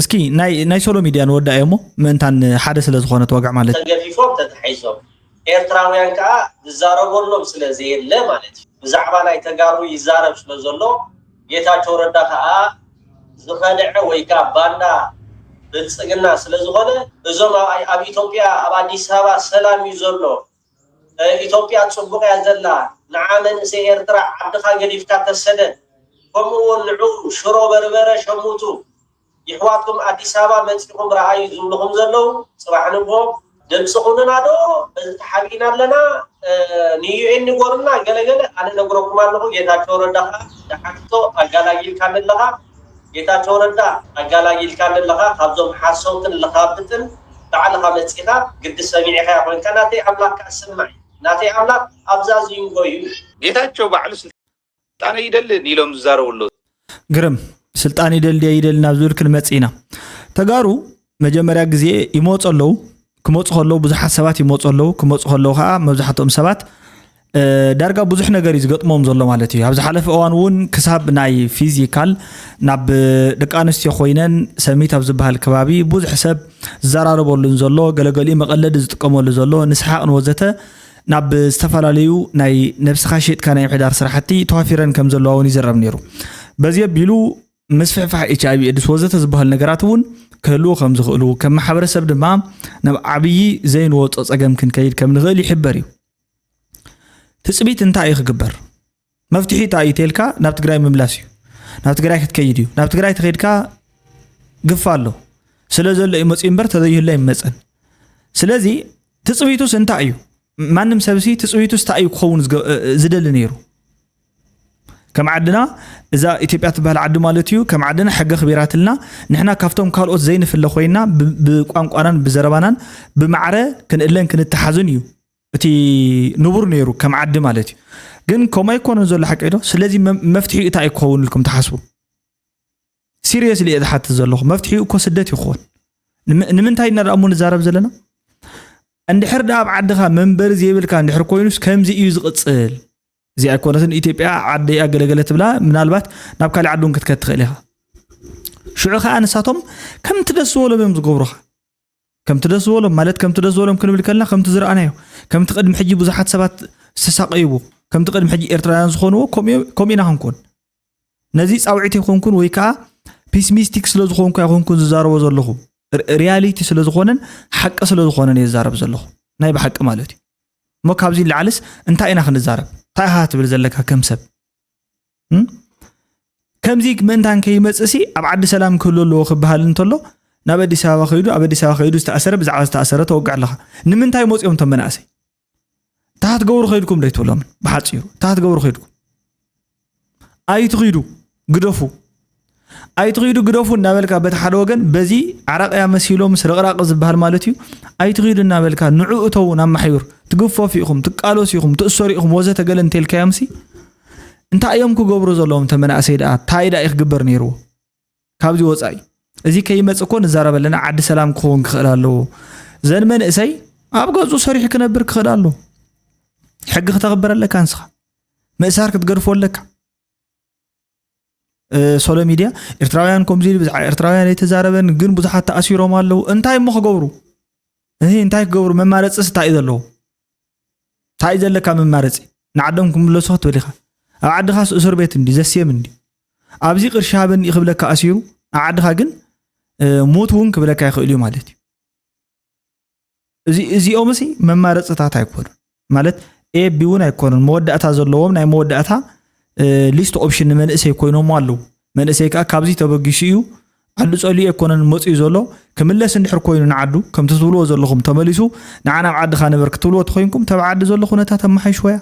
እስኪ ናይ ናይ ሶሎ ሚድያ ንወዳእ እሞ ምእንታን ሓደ ስለ ዝኾነ ተወግዕ ማለት ተገፊፎም ተታሒዞም ኤርትራውያን ከኣ ዝዛረበሎም ስለ ዘየለ ማለት እዩ ብዛዕባ ናይ ተጋሩ ይዛረብ ስለ ዘሎ ጌታቸው ረዳ ከኣ ዝኸደዐ ወይ ከኣ ባንዳ ብልጽግና ስለ ዝኾነ እዞም ኣብ ኢትዮጵያ ኣብ ኣዲስ ኣበባ ሰላም እዩ ዘሎ ኢትዮጵያ ጽቡቕ እያ ዘላ፣ ንዓ መንእሰይ ኤርትራ ዓድኻ ገዲፍካ ተሰደድ፣ ከምኡ ውን ንዑ ሽሮ በርበረ ሸምቱ፣ ይሕዋትኩም ኣዲስ ኣበባ መጺኹም ረኣዩ ዝብሉኹም ዘለዉ፣ ጽባሕ ንግሆ ድምጺ ኩኑና ዶ በዚ ተሓቢእና ኣለና ንዩኤን ንገሩና ገለ ገለ ኣነ እነግረኩም ኣለኹ፣ ጌታቸው ረዳ ከኣ ንሓቲቶ ኣጋላጊልካኒ ኣለኻ። ጌታቸው ረዳ ኣጋላጊልካ ኣለኻ ካብዞም ሓሰውትን ለኻብጥን ባዕልኻ መጺኻ ግዲ ሰሚዒኻዮ ኮንካ ናተይ ኣምላኽ ከኣ ስማዒ ናተይ ኣምላኽ ኣብ ዛዚንጎ ዩ። ጌታቸው ባዕሉ ስልጣን ኣይደልን ኢሎም ዝዛረቡ ኣለዉ። ግርም ስልጣን ይደሊ ድየ ይደሊ ናብ ዝብል ክንመጽእ ኢና። ተጋሩ መጀመርያ ግዜ ይመፁ ኣለው ክመፁ ከለው ብዙሓት ሰባት ይመፁ ኣለው ክመፁ ከለው ከዓ መብዛሕትኦም ሰባት ዳርጋ ብዙሕ ነገር እዩ ዝገጥሞም ዘሎ ማለት እዩ ኣብ ዝሓለፈ እዋን እውን ክሳብ ናይ ፊዚካል ናብ ደቂ ኣንስትዮ ኮይነን ሰሚት ኣብ ዝበሃል ከባቢ ብዙሕ ሰብ ዝዘራረበሉን ዘሎ ገለገሊኡ መቐለዲ ዝጥቀመሉ ዘሎ ንስሓቅ ንወዘተ ናብ ዝተፈላለዩ ናይ ነብስኻ ሸጥካ ናይ ምሕዳር ስራሕቲ ተዋፊረን ከም ዘለዋ እውን ይዝረብ ነይሩ በዚ ኣቢሉ ምስፍሕፋሕ ኤች ኣይቪ ኤድስ ወዘተ ዝበሃሉ ነገራት እውን ክህልዉ ከም ዝኽእሉ ከም ማሕበረሰብ ድማ ናብ ዓብዪ ዘይንወፆ ፀገም ክንከይድ ከም ንኽእል ይሕበር እዩ ትፅቢት እንታይ እዩ ክግበር መፍትሒ እንታይ እዩ ተልካ ናብ ትግራይ ምምላስ እዩ ናብ ትግራይ ክትከይድ እዩ ናብ ትግራይ ተኸድካ ግፋ ኣሎ ስለ ዘሎ እዩ መፅኡ እምበር ተዘይህሎ ኣይመፀን ስለዚ ትፅቢቱስ እንታይ እዩ ማንም ሰብሲ ትፅቢቱስ እንታይ እዩ ክኸውን ዝደሊ ነይሩ ከም ዓድና እዛ ኢትዮጵያ ትበሃል ዓዲ ማለት እዩ ከም ዓድና ሕገ ክቢራትልና ንሕና ካብቶም ካልኦት ዘይንፍለ ኮይና ብቋንቋናን ብዘረባናን ብማዕረ ክንእለን ክንተሓዝን እዩ እቲ ንቡር ነይሩ ከም ዓዲ ማለት እዩ ግን ከምኡ ኣይኮነን ዘሎ ሓቂ ዶ ስለዚ መፍትሒ እታ እዩ ክኸውን ኢልኩም ትሓስቡ ሲሪየስሊ እየ ዝሓትት ዘለኹ መፍትሒኡ እኮ ስደት ይኸውን ንምንታይ ኢና እሞ ንዛረብ ዘለና እንድሕር ዳ ኣብ ዓድኻ መንበሪ ዘይብልካ እንድሕር ኮይኑስ ከምዚ እዩ ዝቕፅል እዚ ኣይኮነትን ኢትዮጵያ ዓደይ ኣገለገለ ትብላ ምናልባት ናብ ካልእ ዓዲ እውን ክትከድ ትኽእል ኢኻ ሽዑ ከዓ ንሳቶም ከምቲ ደስ ዝበሎም እዮም ዝገብሩኻ ከምቲ ደስ ዝበሎም ማለት ከምቲ ደስ ዝበሎም ክንብል ከለና ከምቲ ዝረኣናዮ ከምቲ ቅድሚ ሕጂ ብዙሓት ሰባት ዝተሳቀይዎ ከምቲ ቅድሚ ሕጂ ኤርትራውያን ዝኾንዎ ከምኡ ኢና ክንኮን ነዚ ፃውዒት ይኮንኩን ወይ ከዓ ፒስሚስቲክ ስለ ዝኾንኩ ኣይኮንኩን ዝዛረቦ ዘለኹ ሪያሊቲ ስለ ዝኾነን ሓቂ ስለ ዝኾነን እየ ዝዛረብ ዘለኹ ናይ ብሓቂ ማለት እዩ እሞ ካብዚ ንላዕልስ እንታይ ኢና ክንዛረብ እንታይ ኢኻ ትብል ዘለካ ከም ሰብ ከምዚ ምእንታን ከይመፅእሲ ኣብ ዓዲ ሰላም ክህሉ ኣለዎ ክበሃል እንተሎ ናብ ኣዲስ ኣበባ ከይዱ ኣብ ኣዲስ ኣበባ ከይዱ ዝተኣሰረ ብዛዕባ ዝተኣሰረ ተወግዕ ኣለካ ንምንታይ መፅኦም እቶም መናእሰይ እንታይ ክትገብሩ ከይድኩም ዶ ኣይትብሎምን ብሓፂሩ እንታይ ክትገብሩ ከይድኩም ኣይትኺዱ ግደፉ ኣይትኺዱ ግደፉ እናበልካ በቲ ሓደ ወገን በዚ ዓራቅያ መሲሎም ስርቕራቅ ዝበሃል ማለት እዩ ኣይትኺዱ እናበልካ ንዑ እተው ናብ ማሕዩር ትግፈፉ ኢኹም ትቃለሱ ኢኹም ትእሰሩ ኢኹም ወዘተ ገለ እንተልካዮምሲ እንታይ እዮም ክገብሩ ዘለዎም እተ መናእሰይ ደኣ እንታይ ደኣ እዩ ክግበር ነይርዎ ካብዚ ወፃኢ እዚ ከይመፅ እኮ ንዛረብ ኣለና ዓዲ ሰላም ክኸውን ክኽእል ኣለዎ ዘን መንእሰይ ኣብ ገፁ ሰሪሑ ክነብር ክኽእል ኣለዎ ሕጊ ክተኽብር ኣለካ ንስኻ ምእሳር ክትገድፎ ኣለካ ሶሎ ሚድያ ኤርትራውያን ከምዚ ኢሉ ብዛዕባ ኤርትራውያን ኣይተዛረበን ግን ብዙሓት ተኣሲሮም ኣለዉ እንታይ እሞ ክገብሩ እንታይ ክገብሩ መማረፂ ስታይ እዩ ዘለዎ ታእዩ ዘለካ መማረፂ ንዓዶም ክምለሱ ክትብል ኢካ ኣብ ዓድኻስ እሱር ቤት እንዲ ዘስየም እንዲ ኣብዚ ቅርሺ ሃበኒ ክብለካ ኣሲሩ ኣብ ዓድኻ ግን ሞት እውን ክብለካ ይኽእል እዩ ማለት እዩ እዚ እዚኦም ሲ መማረፅታት ኣይኮኑ ማለት ኤቢ እውን ኣይኮኑን መወዳእታ ዘለዎም ናይ መወዳእታ ሊስት ኦፕሽን ንመንእሰይ ኮይኖሞ ኣለዉ መንእሰይ ከኣ ካብዚ ተበጊሱ ኢዩ ዓዱ ጸሊኡ ኣይኮነን መጽዩ ዘሎ ክምለስ እንድሕር ኮይኑ ንዓዱ ከምቲ ትብልዎ ዘለኹም ተመሊሱ ንዓና ኣብ ዓድኻ ንበር ክትብልዎ ተኾይንኩም ተብ ዓዲ ዘሎ ኩነታት ኣመሓይሽወያ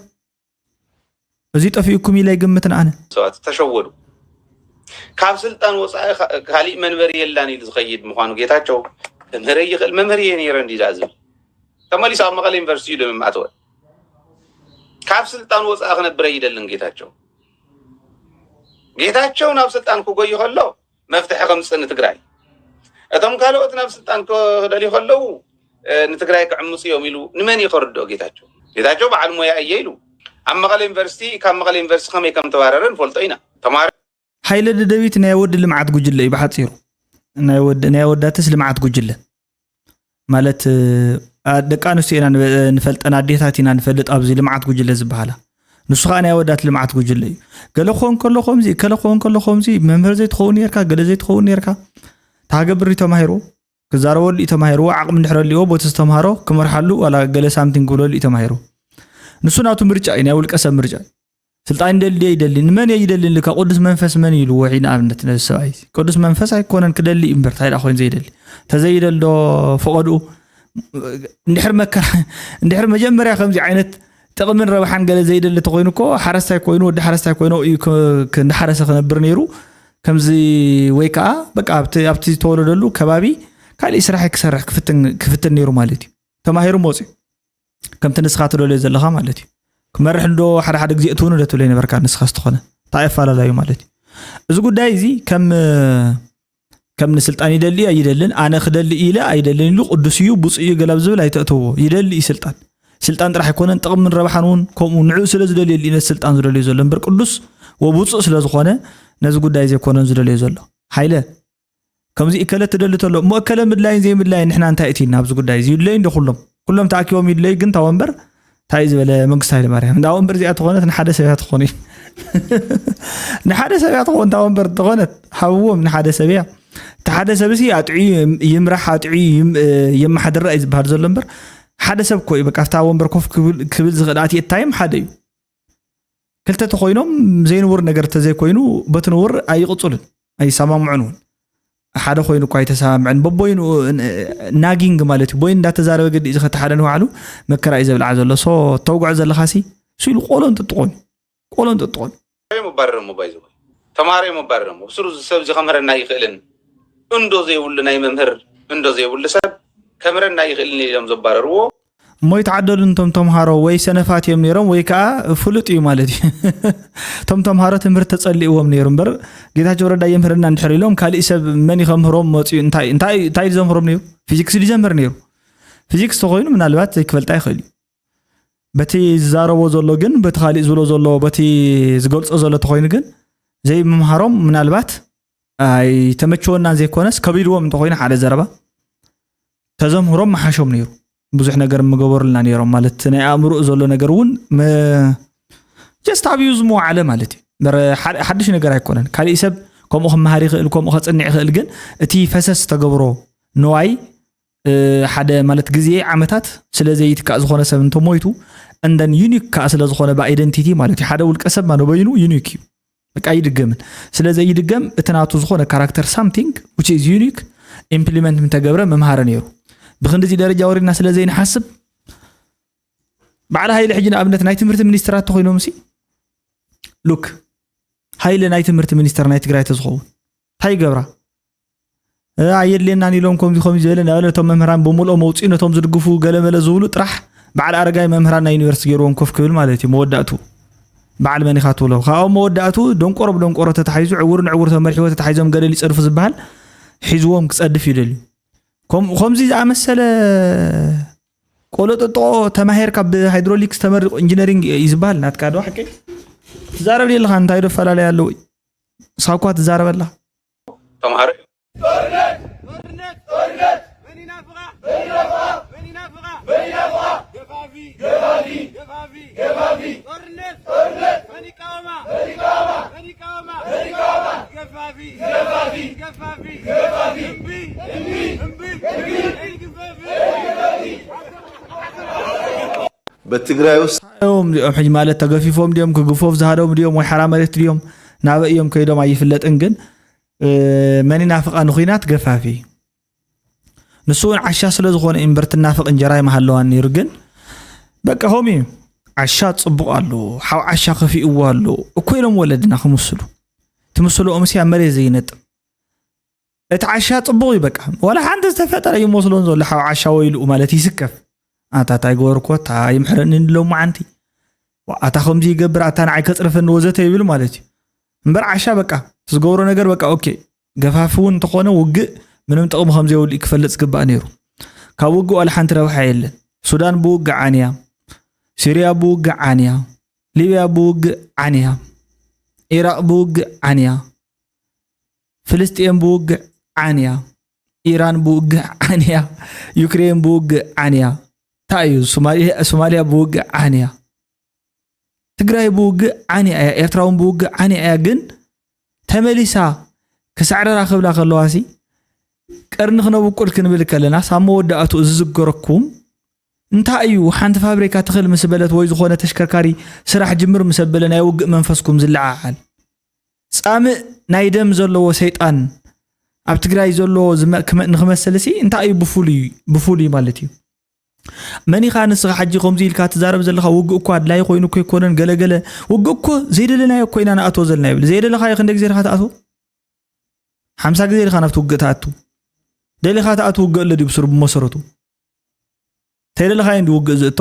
እዚ ጠፊኡኩም ኢለ ኣይግምትን ኣነ። ሰባት ተሸወዱ ካብ ስልጣን ወፃኢ ካሊእ መንበሪ የላን ኢሉ ዝኸይድ ምዃኑ ጌታቸው ክምህረይ ይኽእል መምህር እየ ነይረ እንዲ ዳኣ ዝብል ተመሊሱ ኣብ መቐለ ዩኒቨርሲቲ እዩ ደምም ኣተወ ካብ ስልጣን ወፃኢ ክነብረ ይደልን ጌታቸው ጌታቸው ናብ ስልጣን ክጎይ ከሎ መፍትሒ ከምፅእ ንትግራይ እቶም ካልኦት ናብ ስልጣን ክደልዩ ከለው ንትግራይ ክዕምፁ እዮም ኢሉ ንመን እዩ ከርድኦ? ጌታቸው ጌታቸው በዓል ሞያ እየ ኢሉ ኣብ መቐለ ዩኒቨርሲቲ ካብ መቐለ ዩኒቨርሲቲ ከመይ ከም ተባረረ ንፈልጦ ኢና። ተማሪ ሓይለ ደደቢት ናይ ወዲ ልምዓት ጉጅለ እዩ ብሓፂሩ ናይ ወዳትስ ልምዓት ጉጅለ ማለት ደቂ ኣንስትዮ ኢና ንፈልጠን ኣዴታት ኢና ንፈልጥ ኣብዚ ልምዓት ጉጅለ ዝበሃላ ንሱ ከዓ ናይ ኣወዳት ልምዓት ጉጅለ እዩ ገለ ክኸውን ከሎ ከምዚ ከለ ክኸውን ከሎ ከምዚ መምህር ዘይትኸውን ነርካ ገለ ዘይትኸውን ነርካ ታገብር እዩ ተማሂሩ ክዛረበሉ እዩ ተማሂሩ ዓቕሚ እንድሕር ኣልዎ ቦቲ ዝተምሃሮ ክመርሓሉ ዋላ ገለ ሳምቲንግ ክብለሉ እዩ ተማሂሩ ንሱ ናቱ ምርጫ እዩ ናይ ውልቀ ሰብ ምርጫ እዩ ስልጣን ይደሊ ድየ ይደሊ ንመን እየ ይደሊ ልካ ቅዱስ መንፈስ መን እዩ ኢልዎ ሒ ንኣብነት ነዚ ሰብኣይ ቅዱስ መንፈስ ኣይኮነን ክደሊ እዩ እምበር እንታይ ኮይኑ ዘይደሊ ተዘይደል ዶ ፈቐድኡ እንድሕር መከራ እንድሕር መጀመርያ ከምዚ ዓይነት ጥቕምን ረብሓን ገለ ዘይደሊ ተኮይኑ እኮ ሓረስታይ ኮይኑ ወዲ ሓረስታይ ኮይኑ እዩ እንዳሓረሰ ክነብር ነይሩ ከምዚ ወይ ከዓ በቃ ኣብቲ ዝተወለደሉ ከባቢ ካልእ ስራሕ ክሰርሕ ክፍትን ነይሩ ማለት እዩ ተማሂሩ መፅኡ ከምቲ ንስኻ ትደልዮ ዘለኻ ማለት እዩ ክመርሕ ዶ ሓደ ሓደ ግዜ እትውን ዶ ትብለይ ነበርካ ንስኻ ዝተኾነ እንታይ ኣፈላለዩ ማለት እዩ እዚ ጉዳይ እዚ ከም ከም ንስልጣን ይደሊ ኣይደልን ኣነ ክደሊ ኢለ ኣይደልን ኢሉ ቅዱስ እዩ ብፁእ እዩ ገላብ ዝብል ኣይተእተዎ ይደሊ እዩ ስልጣን ስልጣን ጥራሕ ኣይኮነን ጥቕምን ረብሓን እውን ከምኡ ንዕኡ ስለ ዝደልዮ ነት ስልጣን ዝደልዩ ዘሎ እምበር ቅዱስ ወብፁእ ስለ ዝኾነ ነዚ ጉዳይ ዘይኮነን ዝደልዮ ዘሎ ሃይለ ከምዚ እከለ ትደሊ ተሎ እሞ እከለ ምድላይን ዘይምድላይን ንሕና እንታይ እቲ ናብዚ ጉዳይ እዚ ይድለዩ እንዶ ኩሎም ኩሎም ተኣኪቦም ይድለዩ ግን እታ ወንበር እንታይ ዝበለ መንግስቲ ሃይለማርያም እንዳ ወንበር እዚኣ ተኾነት ንሓደ ሰብ እያ ትኾኑ ንሓደ ሰብ እያ ትኾን እታ ወንበር ተኾነት ሃብዎም ንሓደ ሰብ እያ እቲ ሓደ ሰብ እዚ ኣጥዕዩ ይምራሕ ኣጥዕዩ የመሓድራ እዩ ዝበሃል ዘሎ እምበር ሓደ ሰብ ኮ እዩ በቃ ኣብታ ወንበር ኮፍ ክብል ዝኽእል ኣትየታይም ሓደ እዩ ክልተ ተኮይኖም ዘይንቡር ነገር ተዘይኮይኑ በቲ ንቡር ኣይቕፅሉን ኣይሰማምዑን እውን ሓደ ኮይኑ እኳ ኣይተሰማምዐን በቦይኑ ናጊንግ ማለት እዩ ቦይን እንዳተዛረበ ግዲ እዚ ከተ ሓደ ንባዕሉ መከራ እዩ ዘብልዓ ዘሎ ሶ ተውግዖ ዘለካ ሲ እሱ ኢሉ ቆሎ እንጥጥቆን ቆሎ እንጥጥቆን መባረረሞ ባይዘ ተማሃሮ መባረረሞ ብስሩ ሰብ እዚ ከምህረና ይኽእልን እንዶ ዘይብሉ ናይ መምህር እንዶ ዘይብሉ ሰብ ከምረና ይኽእልን ኢሎም ዘባረርዎ እሞ ይተዓደሉን እቶም ተምሃሮ ወይ ሰነፋት እዮም ነይሮም ወይ ከዓ ፍሉጥ እዩ ማለት እዩ እቶም ተምሃሮ ትምህርቲ ተፀሊእዎም ነይሩ እምበር ጌታቸው ረዳ የምህረና እንድሕር ኢሎም ካሊእ ሰብ መን ከምህሮም መፅኡ እንታይ እዩ ዘምህሮም ነይሩ ፊዚክስ ድዩ ዘምህር ነይሩ ፊዚክስ ተኮይኑ ምናልባት ዘይክፈልጣ ይኽእል እዩ በቲ ዝዛረቦ ዘሎ ግን በቲ ካሊእ ዝብሎ ዘሎ በቲ ዝገልፆ ዘሎ ተኮይኑ ግን ዘይምምሃሮም ምናልባት ኣይተመቸወናን ዘይኮነስ ከቢድዎም እንተኮይኑ ሓደ ዘረባ ተዘምህሮም መሓሾም ነይሩ ብዙሕ ነገር ምገበሩልና ነይሮም ማለት ናይ ኣእምሮ ዘሎ ነገር እውን ጀስት ኣብዩ ዝመዋዓለ ማለት እዩ ሓድሽ ነገር ኣይኮነን ካሊእ ሰብ ከምኡ ክመሃር ይኽእል ከምኡ ከፅንዕ ይኽእል ግን እቲ ፈሰስ ተገብሮ ንዋይ ሓደ ማለት ግዜ ዓመታት ስለዘይትካእ ዝኾነ ሰብ እንተሞይቱ እንደን ዩኒክ ከዓ ስለዝኾነ ብኣይደንቲቲ ማለት እዩ ሓደ ውልቀ ሰብ ማንበይኑ ዩኒክ እዩ በቃ ኣይድገምን ስለ ዘይድገም እቲ ናቱ ዝኾነ ካራክተር ሳምቲንግ ዊች ኢዝ ዩኒክ ኢምፕሊመንት ምተገብረ ምምሃረ ነይሩ ብክንዲዚ ደረጃ ወሪድና ስለ ዘይንሓስብ በዓል ሃይለ ሕጂ ንኣብነት ናይ ትምህርቲ ሚኒስትራት ተኮይኖም ሲ ሉክ ሃይለ ናይ ትምህርቲ ሚኒስተር ናይ ትግራይ ተዝኸውን እንታይ ይገብራ ኣየድልየናን ኢሎም ከምዚ ከምዚ ዝበለ ናብ ነቶም መምህራን ብምልኦ መውፅኡ ነቶም ዝድግፉ ገለመለ ዝብሉ ጥራሕ በዓል ኣረጋይ መምህራን ናይ ዩኒቨርሲቲ ገይርዎም ኮፍ ክብል ማለት እዩ መወዳእቱ በዓል መን ኢኻ ትብሎ ካብኦም መወዳእቱ ደንቆሮ ብደንቆሮ ተታሒዙ ዕውር ንዕውር ተመሪሕዎ ተታሒዞም ገደል ይፀድፉ ዝበሃል ሒዝዎም ክፀድፍ ይደልዩ ከምዚ ዝኣመሰለ ቆለጠጦ ተማሂርካ ብሃይድሮሊክስ ተመሪቑ ኢንጂነሪንግ እዩ ዝበሃል ናትካ ዶ ሓቂ ትዛረብ ኣለኻ እንታይ ዶ ፈላለዩ ኣለዎ ሳኳ ትዛረበላ ተምሃሮ በትግራይ ውስጥ ኦም ኦም ሕጅ ማለት ተገፊፎም ድም ክግፎፍ ዝሃደሙ ድም ወይ ሓራ መሬት ድም ናበይ እዮም ከይዶም ኣይፍለጥን ግን መን ይናፍቃ ንኩናት ገፋፊ ንሱ እውን ዓሻ ስለ ዝኾነ እምበር ትናፍቅ እንጀራ ይመሃለዋ ነይሩ ግን በቃ ሆም እዩ ዓሻ ፅቡቅ ኣሉ ሓው ዓሻ ከፊእዎ ኣሉ እኮ ኢሎም ወለድና ክምስሉ ትምስልኦምሲ ኣብ መሬት ዘይነጥብ እቲ ዓሻ ፅቡቕ እዩ በቃ ዋላ ሓንቲ ዝተፈጠረ እዩ መስሎን ዘሎ ሓብ ዓሻ ወይልኡ ማለት ይስከፍ ኣታታ ይገበርኮ እታ ይምሕረኒ ንሎም መዓንቲ ኣታ ከምዚ ይገብር ኣታ ንዓይ ከፅርፈኒ ወዘተ ይብል ማለት እዩ እምበር ዓሻ በቃ ዝገብሮ ነገር በቃ ኦኬ ገፋፊ እውን እንተኾነ ውግእ ምንም ጥቕሚ ከም ዘይብሉ እዩ ክፈልጥ ዝግባእ ነይሩ ካብ ውግእ ዋላ ሓንቲ ረብሓ የለን ሱዳን ብውግእ ዓንያ ሲርያ ብውግእ ዓንያ ሊብያ ብውግእ ዓንያ ኢራቅ ብውግእ ዓንያ ፍልስጤም ብውግዕ ዓንያ ኢራን ብውግእ ዓንያ ዩክሬን ብውግእ ዓንያ እንታይ እዩ ሶማልያ ብውግእ ዓንያ ትግራይ ብውግእ ዓንያ እያ ኤርትራ እውን ብውግእ ዓንያ እያ ግን ተመሊሳ ክሳዕረራ ክብላ ከለዋ ሲ ቀርኒ ክነብቁል ክንብል ከለና ሳብ መወዳእቱ ዝዝገረኩም እንታይ እዩ ሓንቲ ፋብሪካ ትኽል ምስ በለት ወይ ዝኾነ ተሽከርካሪ ስራሕ ጅምር ምስ ኣበለ ናይ ውግእ መንፈስኩም ዝለዓዓል ጻምእ ናይ ደም ዘለዎ ሰይጣን ኣብ ትግራይ ዘሎ ንክመስልሲ እንታይ እዩ ብፍሉይ ብፍሉይ ማለት እዩ መን ኢኻ ንስኻ ሕጂ ከምዚ ኢልካ ትዛረብ ዘለኻ ውግእ እኮ ኣድላይ ኮይኑ እኮ ኣይኮነን ገለገለ ውግእ እኮ ዘይደለናዮ እኮ ኢና ንኣትዎ ዘለና ይብል ዘይደለኻዮ ክንደ ግዜ ድኻ ትኣትዎ ሓምሳ ግዜ ድኻ ናብቲ ውግእ ትኣቱ ደሊኻ ትኣትው ውግእ ኣሎ ድዩ ብስሩ ብመሰረቱ ተይደለኻዮ እንዲ ውግእ ዝእቶ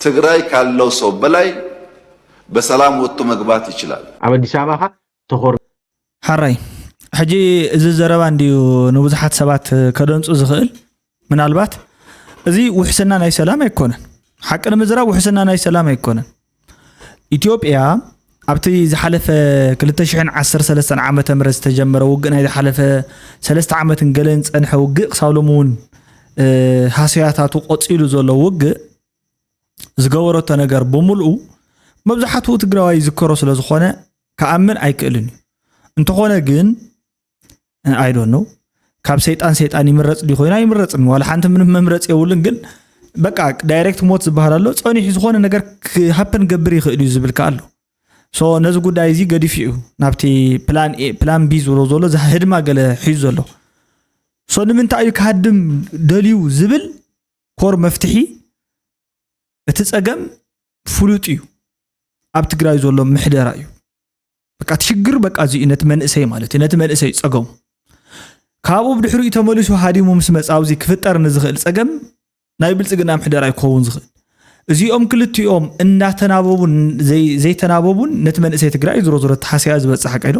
ትግራይ ካለው ሰው በላይ በሰላም ወጥቶ መግባት ይችላል። ኣብ ኣዲስ ኣበባ ከ ተኾር ሐራይ ሕጂ እዚ ዘረባ እንድዩ ንብዙሓት ሰባት ከደንጹ ዝኽእል ምናልባት እዚ ውሕስና ናይ ሰላም ኣይኮነን ሓቂ ንምዝራብ ውሕስና ናይ ሰላም ኣይኮነን ኢትዮጵያ ኣብቲ ዝሓለፈ 2013 ዓ ም ዝተጀመረ ውግእ ናይ ዝሓለፈ ሰለስተ ዓመትን ገለን ዝፀንሐ ውግእ ክሳብ ሎሚ እውን ሃሰያታቱ ቆፂሉ ዘሎ ውግእ ዝገበረቶ ነገር ብምልኡ መብዛሕትኡ ትግራዋይ ይዝከሮ ስለ ዝኾነ ክኣምን ኣይክእልን እዩ እንተኾነ ግን ኣይ ዶንት ኖው ካብ ሰይጣን ሰይጣን ይምረፅ ዲ ኮይኑ ኣይምረፅን ዋላ ሓንቲ ምንም መምረፂ የብሉን ግን በቃ ዳይሬክት ሞት ዝበሃል ኣሎ ፀኒሑ ዝኾነ ነገር ክሃፕን ገብር ይኽእል እዩ ዝብል ከ ኣሎ ሶ ነዚ ጉዳይ እዚ ገዲፉ እዩ ናብቲ ፕላን ኤ ፕላን ቢ ዝብሎ ዘሎ እዚ ህድማ ገለ ሒዙ ዘሎ ሶ ንምንታይ እዩ ክሃድም ደልዩ ዝብል ኮር መፍትሒ እቲ ፀገም ፍሉጥ እዩ ኣብ ትግራይ ዘሎ ምሕደራ እዩ በቃ እቲ ሽግር በቃ እዚ እዩ ነቲ መንእሰይ ማለት እዩ ነቲ መንእሰይ ፀገሙ ካብኡ ብድሕሪኡ ተመሊሱ ሃዲሙ ምስ መፃ ኣብዚ ክፍጠር ንዝኽእል ፀገም ናይ ብልፅግና ምሕደራ ይክኸውን ዝኽእል እዚኦም ክልቲኦም እንዳተናበቡን ዘይተናበቡን ነቲ መንእሰይ ትግራይ ዝሮ ዝሮ ተሓስያ ዝበፅሕ ቀይዶ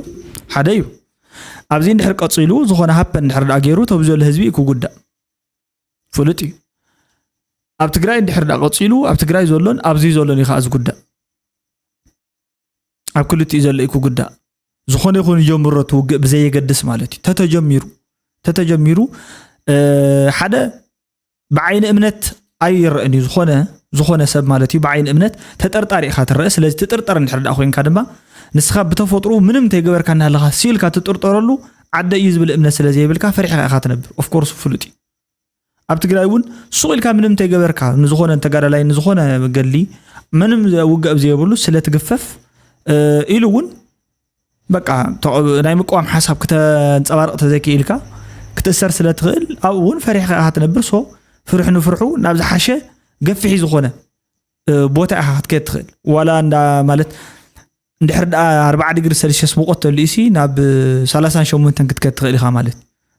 ሓደ እዩ ኣብዚ እንድሕር ቀፂሉ ዝኾነ ሃፐ እንድሕር ዳ ገይሩ ተብ ዘሎ ህዝቢ እዩ ክጉዳእ ፍሉጥ እዩ ኣብ ትግራይ እንድሕር ዳ ቀፂሉ ኣብ ትግራይ ዘሎን ኣብዚ ዘሎን እዩ ከዓ ዝጉዳእ ኣብ ክልቲኡ ዘሎ እዩ ክጉዳእ ዝኾነ ይኹን ይጀምሮ እቲ ውግእ ብዘየገድስ ማለት እዩ ተተጀሚሩ ተተጀሚሩ ሓደ ብዓይኒ እምነት ኣይረአን እዩ ዝኾነ ዝኾነ ሰብ ማለት እዩ ብዓይኒ እምነት ተጠርጣሪ ኢኻ ትረአ ስለዚ ትጥርጠር እንድሕር ዳኣ ኮይንካ ድማ ንስኻ ብተፈጥሩ ምንም እንተይገበርካ እናሃለኻ ሲኢልካ ትጥርጠረሉ ዓደ እዩ ዝብል እምነት ስለ ዘይብልካ ፈሪሕካ ኢኻ ትነብር ኦፍኮርስ ፍሉጥ እዩ ኣብ ትግራይ እውን ሱቕ ኢልካ ምንም እንተይገበርካ ንዝኾነ ተጋዳላይ ንዝኾነ ገድሊ ምንም ውግእ ኣብ ዘየብሉ ስለ ትግፈፍ ኢሉ እውን በቃ ናይ ምቅዋም ሓሳብ ክተንፀባርቕ ተዘይክኢልካ ክትእሰር ስለ ትኽእል ኣብኡ እውን ፈሪሕካ ኢኻ ትነብር ሶ ፍርሒ ንፍርሑ ናብ ዝሓሸ ገፊሒ ዝኾነ ቦታ ኢኻ ክትከድ ትኽእል ዋላ እንዳ ማለት እንድሕር ደኣ ኣርባዓ ዲግሪ ሰልሽስ ሙቆት ተልዩሲ ናብ ሰላሳን ሸሞንተን ክትከድ ትኽእል ኢኻ ማለት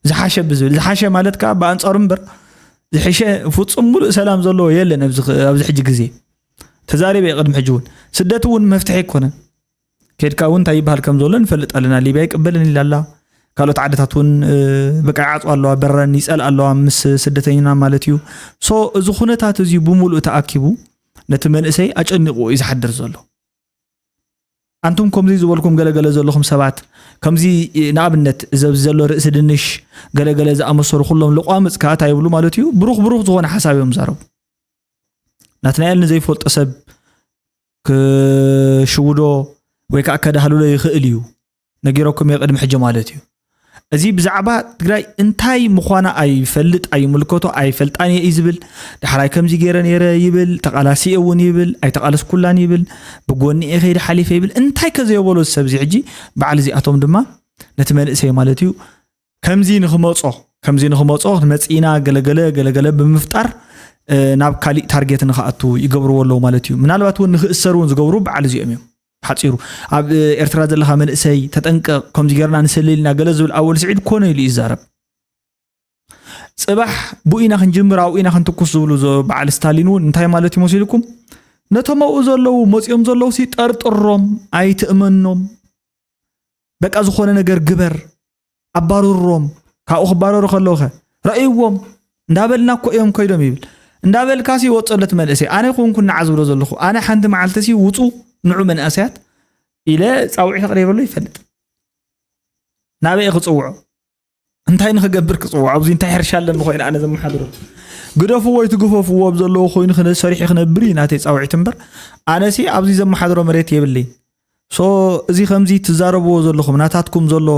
ዝሓሸ ብዝብል ዝሓሸ ማለት ከዓ ብኣንፃሩ እምበር ዝሕሸ ፍፁም ሙሉእ ሰላም ዘለዎ የለን ኣብዚ ሕጂ ግዜ ተዛሪበ ቅድሚ ሕጂ እውን ስደት እውን መፍትሒ ኣይኮነን ኬድካ እውን እንታይ ይበሃል ከም ዘሎ ንፈልጥ ኣለና ሊብያ ይቅበልን ኢላ ኣላ ካልኦት ዓድታት እውን በቃ ይዓፅዋ ኣለዋ በረን ይፀልኣ ኣለዋ ምስ ስደተኝና ማለት እዩ ሶ እዚ ኩነታት እዚ ብምሉእ ተኣኪቡ ነቲ መንእሰይ ኣጨኒቑ እዩ ዝሓድር ዘሎ ኣንቱም ከምዚ ዝበልኩም ገለገለ ዘለኹም ሰባት ከምዚ ንኣብነት ዘብዚ ዘሎ ርእሲ ድንሽ ገለገለ ዝኣመሰሉ ኩሎም ልቋምፅ ከዓ እንታይ ይብሉ ማለት እዩ ብሩኽ ብሩኽ ዝኾነ ሓሳብ እዮም ዛረቡ ናትናኤል ንዘይፈልጦ ሰብ ክሽውዶ ወይ ከዓ ከዳህልሎ ይኽእል እዩ ነጊረኩም እየ ቅድሚ ሕጂ ማለት እዩ እዚ ብዛዕባ ትግራይ እንታይ ምዃና ኣይፈልጥ ኣይምልከቶ ኣይፈልጣን እየ እዩ ዝብል ዳሕራይ ከምዚ ገይረ ነይረ ይብል ተቓላሲ እውን ይብል ኣይተቓለስኩላን ይብል ብጎኒ እየ ከይዲ ሓሊፈ ይብል እንታይ ከዘየበሎ ዝሰብ እዚ ሕጂ በዓል እዚኣቶም ድማ ነቲ መንእሰይ ማለት እዩ ከምዚ ንክመፆ ከምዚ ንክመፆ መፂእና ገለገለ ገለገለ ብምፍጣር ናብ ካሊእ ታርጌት ንክኣቱ ይገብርዎ ኣለዉ ማለት እዩ ምናልባት እውን ንክእሰር እውን ዝገብሩ በዓል እዚኦም እዮም ሓፂሩ ኣብ ኤርትራ ዘለካ መንእሰይ ተጠንቀቕ ከምዚ ገርና ንሰለልና ገለ ዝብል ኣወል ስዒድ ኮነ ኢሉ ይዛረብ ፅባሕ ብኡ ኢና ክንጅምር ኣብኡ ኢና ክንትኩስ ዝብሉ በዓል ስታሊን እውን እንታይ ማለት እዩ መሲልኩም ነቶም ኣብኡ ዘለዉ መፂኦም ዘለዉ ሲ ጠርጥሮም ኣይትእመኖም በቃ ዝኾነ ነገር ግበር ኣባርሮም ካብኡ ክባረሩ ከለውኸ ረእይዎም እንዳበልና እኮ እዮም ኮይዶም ይብል እንዳበልካ ሲ ወፀለት መንእሰይ ኣነ ኮንኩ ንዓ ዝብሎ ዘለኹ ኣነ ሓንቲ መዓልቲ ሲ ውፁ ንዑ መንእሰያት ኢለ ፃውዒት ኣቕሪበሉ ይፈልጥ ናበይ ክፅውዖ እንታይ ንክገብር ክፅውዖ ኣብዚ እንታይ ሕርሻ ኣለኒ ኮይኑ ኣነ ዘመሓድሮ ግደፍዎ ወይ ትግፈፍዎ ኣብ ዘለዎ ኮይኑ ሰሪሒ ክነብር እዩ ናተይ ፃውዒት እምበር ኣነሲ ኣብዚ ዘመሓድሮ መሬት የብለይ ሶ እዚ ከምዚ ትዛረብዎ ዘለኹም ናታትኩም ዘሎ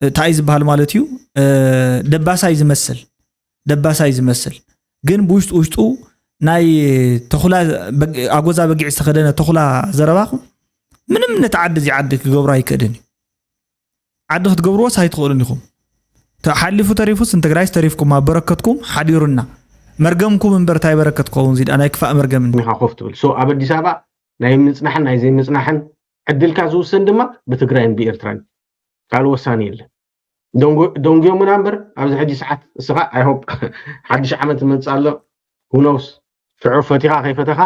እንታይ ዝበሃል ማለት እዩ ደባሳይ ዝመስል ደባሳይ ዝመስል ግን ብውሽጡ ውሽጡ ናይ ተኹላ ኣጎዛ በጊዕ ዝተኸደነ ተኹላ ዘረባኹም ምንም ነቲ ዓዲ እዚ ዓዲ ክገብሮ ኣይክእልን እዩ ዓዲ ክትገብርዎስ ኣይትኽእሉን ኢኹም ሓሊፉ ተሪፉስ ንትግራይስ ተሪፍኩም ኣብ በረከትኩም ሓዲሩና መርገምኩም እምበር እንታይ በረከት ክኸውን እዚድኣ ናይ ክፋእ መርገም እንዲ ኒኻ ኮፍ ትብል ሶ ኣብ ኣዲስ ኣበባ ናይ ምጽናሕን ናይ ዘይምጽናሕን ዕድልካ ዝውሰን ድማ ብትግራይን ብኤርትራን ካልእ ወሳኒ የለን ደንጉዮምና እምበር ኣብዚ ሕጂ ሰዓት እስኻ ኣይሆፕ ሓድሽ ዓመት ዝመፅእ ኣሎ ሁኖውስ ሽዑ ፈቲኻ ከይፈተኻ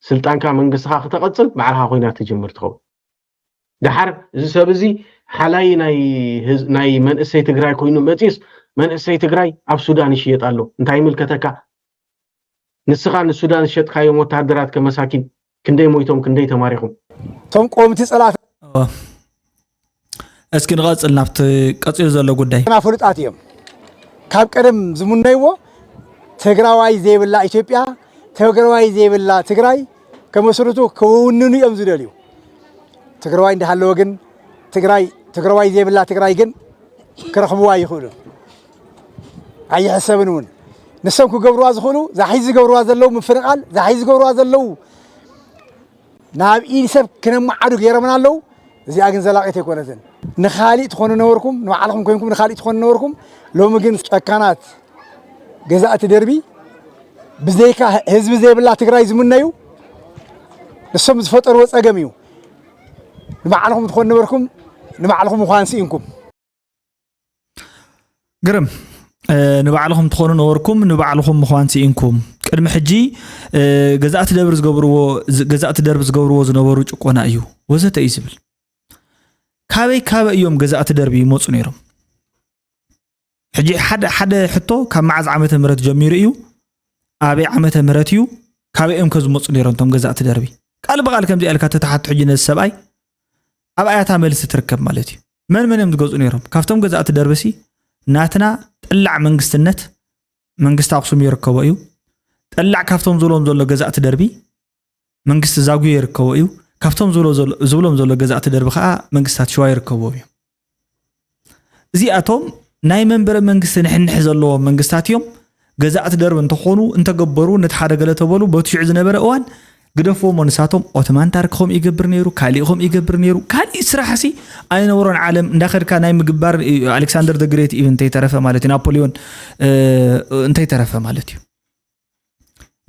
ስልጣንካ መንግስትኻ ክተቐፅል ባዕልኻ ኩናት ትጅምር ትኸውን ደሓር እዚ ሰብ እዚ ሓላይ ናይ መንእሰይ ትግራይ ኮይኑ መፅዩስ መንእሰይ ትግራይ ኣብ ሱዳን ይሽየጥ ኣሎ እንታይ ይምልከተካ ንስኻ ንሱዳን ዝሸጥካዮም ወተሃደራት ከመሳኪን ክንደይ ሞይቶም ክንደይ ተማሪኹም እቶም ቆምቲ ፀላእቲ እስኪ ንቐፅል ናብቲ ቀፂሉ ዘሎ ጉዳይ ና ፍሉጣት እዮም ካብ ቀደም ዝሙነይዎ ትግራዋይ ዘይብላ ኢትዮጵያ ትግራዋይ ዘይብላ ትግራይ ከመስርቱ ክውንኑ እዮም ዝደልዩ ትግራዋይ እንዳሃለወ ግን ትግራይ ትግራዋይ ዘይብላ ትግራይ ግን ክረኽብዋ ይኽእሉ ኣይሕሰብን እውን ንሶም ክገብርዋ ዝኽእሉ ዛሒዚ ዝገብርዋ ዘለዉ ምፍንቓል ዛሒዚ ዝገብርዋ ዘለዉ ናብ ኢድ ሰብ ክነመዓዱ ገይሮምና ኣለው። እዚኣ ግን ዘላቂት ኣይኮነትን። ንካሊእ ትኾኑ ነበርኩም፣ ንባዕልኹም ኮይንኩም ንካሊእ ትኾኑ ነበርኩም። ሎሚ ግን ጨካናት ገዛእቲ ደርቢ ብዘይካ ህዝቢ ዘይብላ ትግራይ ዝምነዩ ንሶም ዝፈጠርዎ ፀገም እዩ። ንባዕልኹም ትኾኑ ነበርኩም፣ ንባዕልኹም ምዃን ስኢንኩም። ግርም ንባዕልኹም ትኾኑ ነበርኩም ንባዕልኹም ምዃን ስኢንኩም ቅድሚ ሕጂ ገዛእቲ ደብሪ ዝገብርዎ ገዛእቲ ደርቢ ዝገብርዎ ዝነበሩ ጭቆና እዩ ወዘተ እዩ ዝብል ካበይ ካበይ እዮም ገዛእቲ ደርቢ ይመፁ ነይሮም ሕጂ ሓደ ሓደ ሕቶ ካብ መዓዝ ዓመተ ምህረት ጀሚሩ እዩ ኣበይ ዓመተ ምህረት እዩ ካበይ እዮም ከዝመፁ ነይሮም እቶም ገዛእቲ ደርቢ ቃል ብቃል ከምዚ ኢልካ ተተሓቶ ሕጂ ነዚ ሰብኣይ ኣብ ኣያታ መልሲ ትርከብ ማለት እዩ መን መን እዮም ዝገዝኡ ነይሮም? ካብቶም ገዛእቲ ደርቢሲ ናትና ጠላዕ መንግስትነት መንግስቲ ኣክሱም ይርከቦ እዩ። ጠላዕ ካብቶም ዝብሎም ዘሎ ገዛእቲ ደርቢ መንግስቲ ዛጉዮ ይርከቦ እዩ። ካብቶም ዝብሎም ዘሎ ገዛእቲ ደርቢ ከዓ መንግስታት ሸዋ ይርከቦ እዩ። እዚኣቶም ናይ መንበረ መንግስቲ ንሕንሕ ዘለዎም መንግስታት እዮም። ገዛእቲ ደርብ እንተኾኑ እንተገበሩ ነቲ ሓደ ገለ ተበሉ በቲ ሽዑ ዝነበረ እዋን ግደፍዎሞ ንሳቶም ኦትማን ታርክ ከምኡ ይገብር ነይሩ ካሊእ ከምኡ ይገብር ነይሩ ካሊእ ስራሕ ሲ ኣይነበሮን ዓለም እንዳኸድካ ናይ ምግባር ኣሌክሳንደር ደግሬት ኢቭን እንተይተረፈ ማለት እዩ ናፖሊዮን እንተይተረፈ ማለት እዩ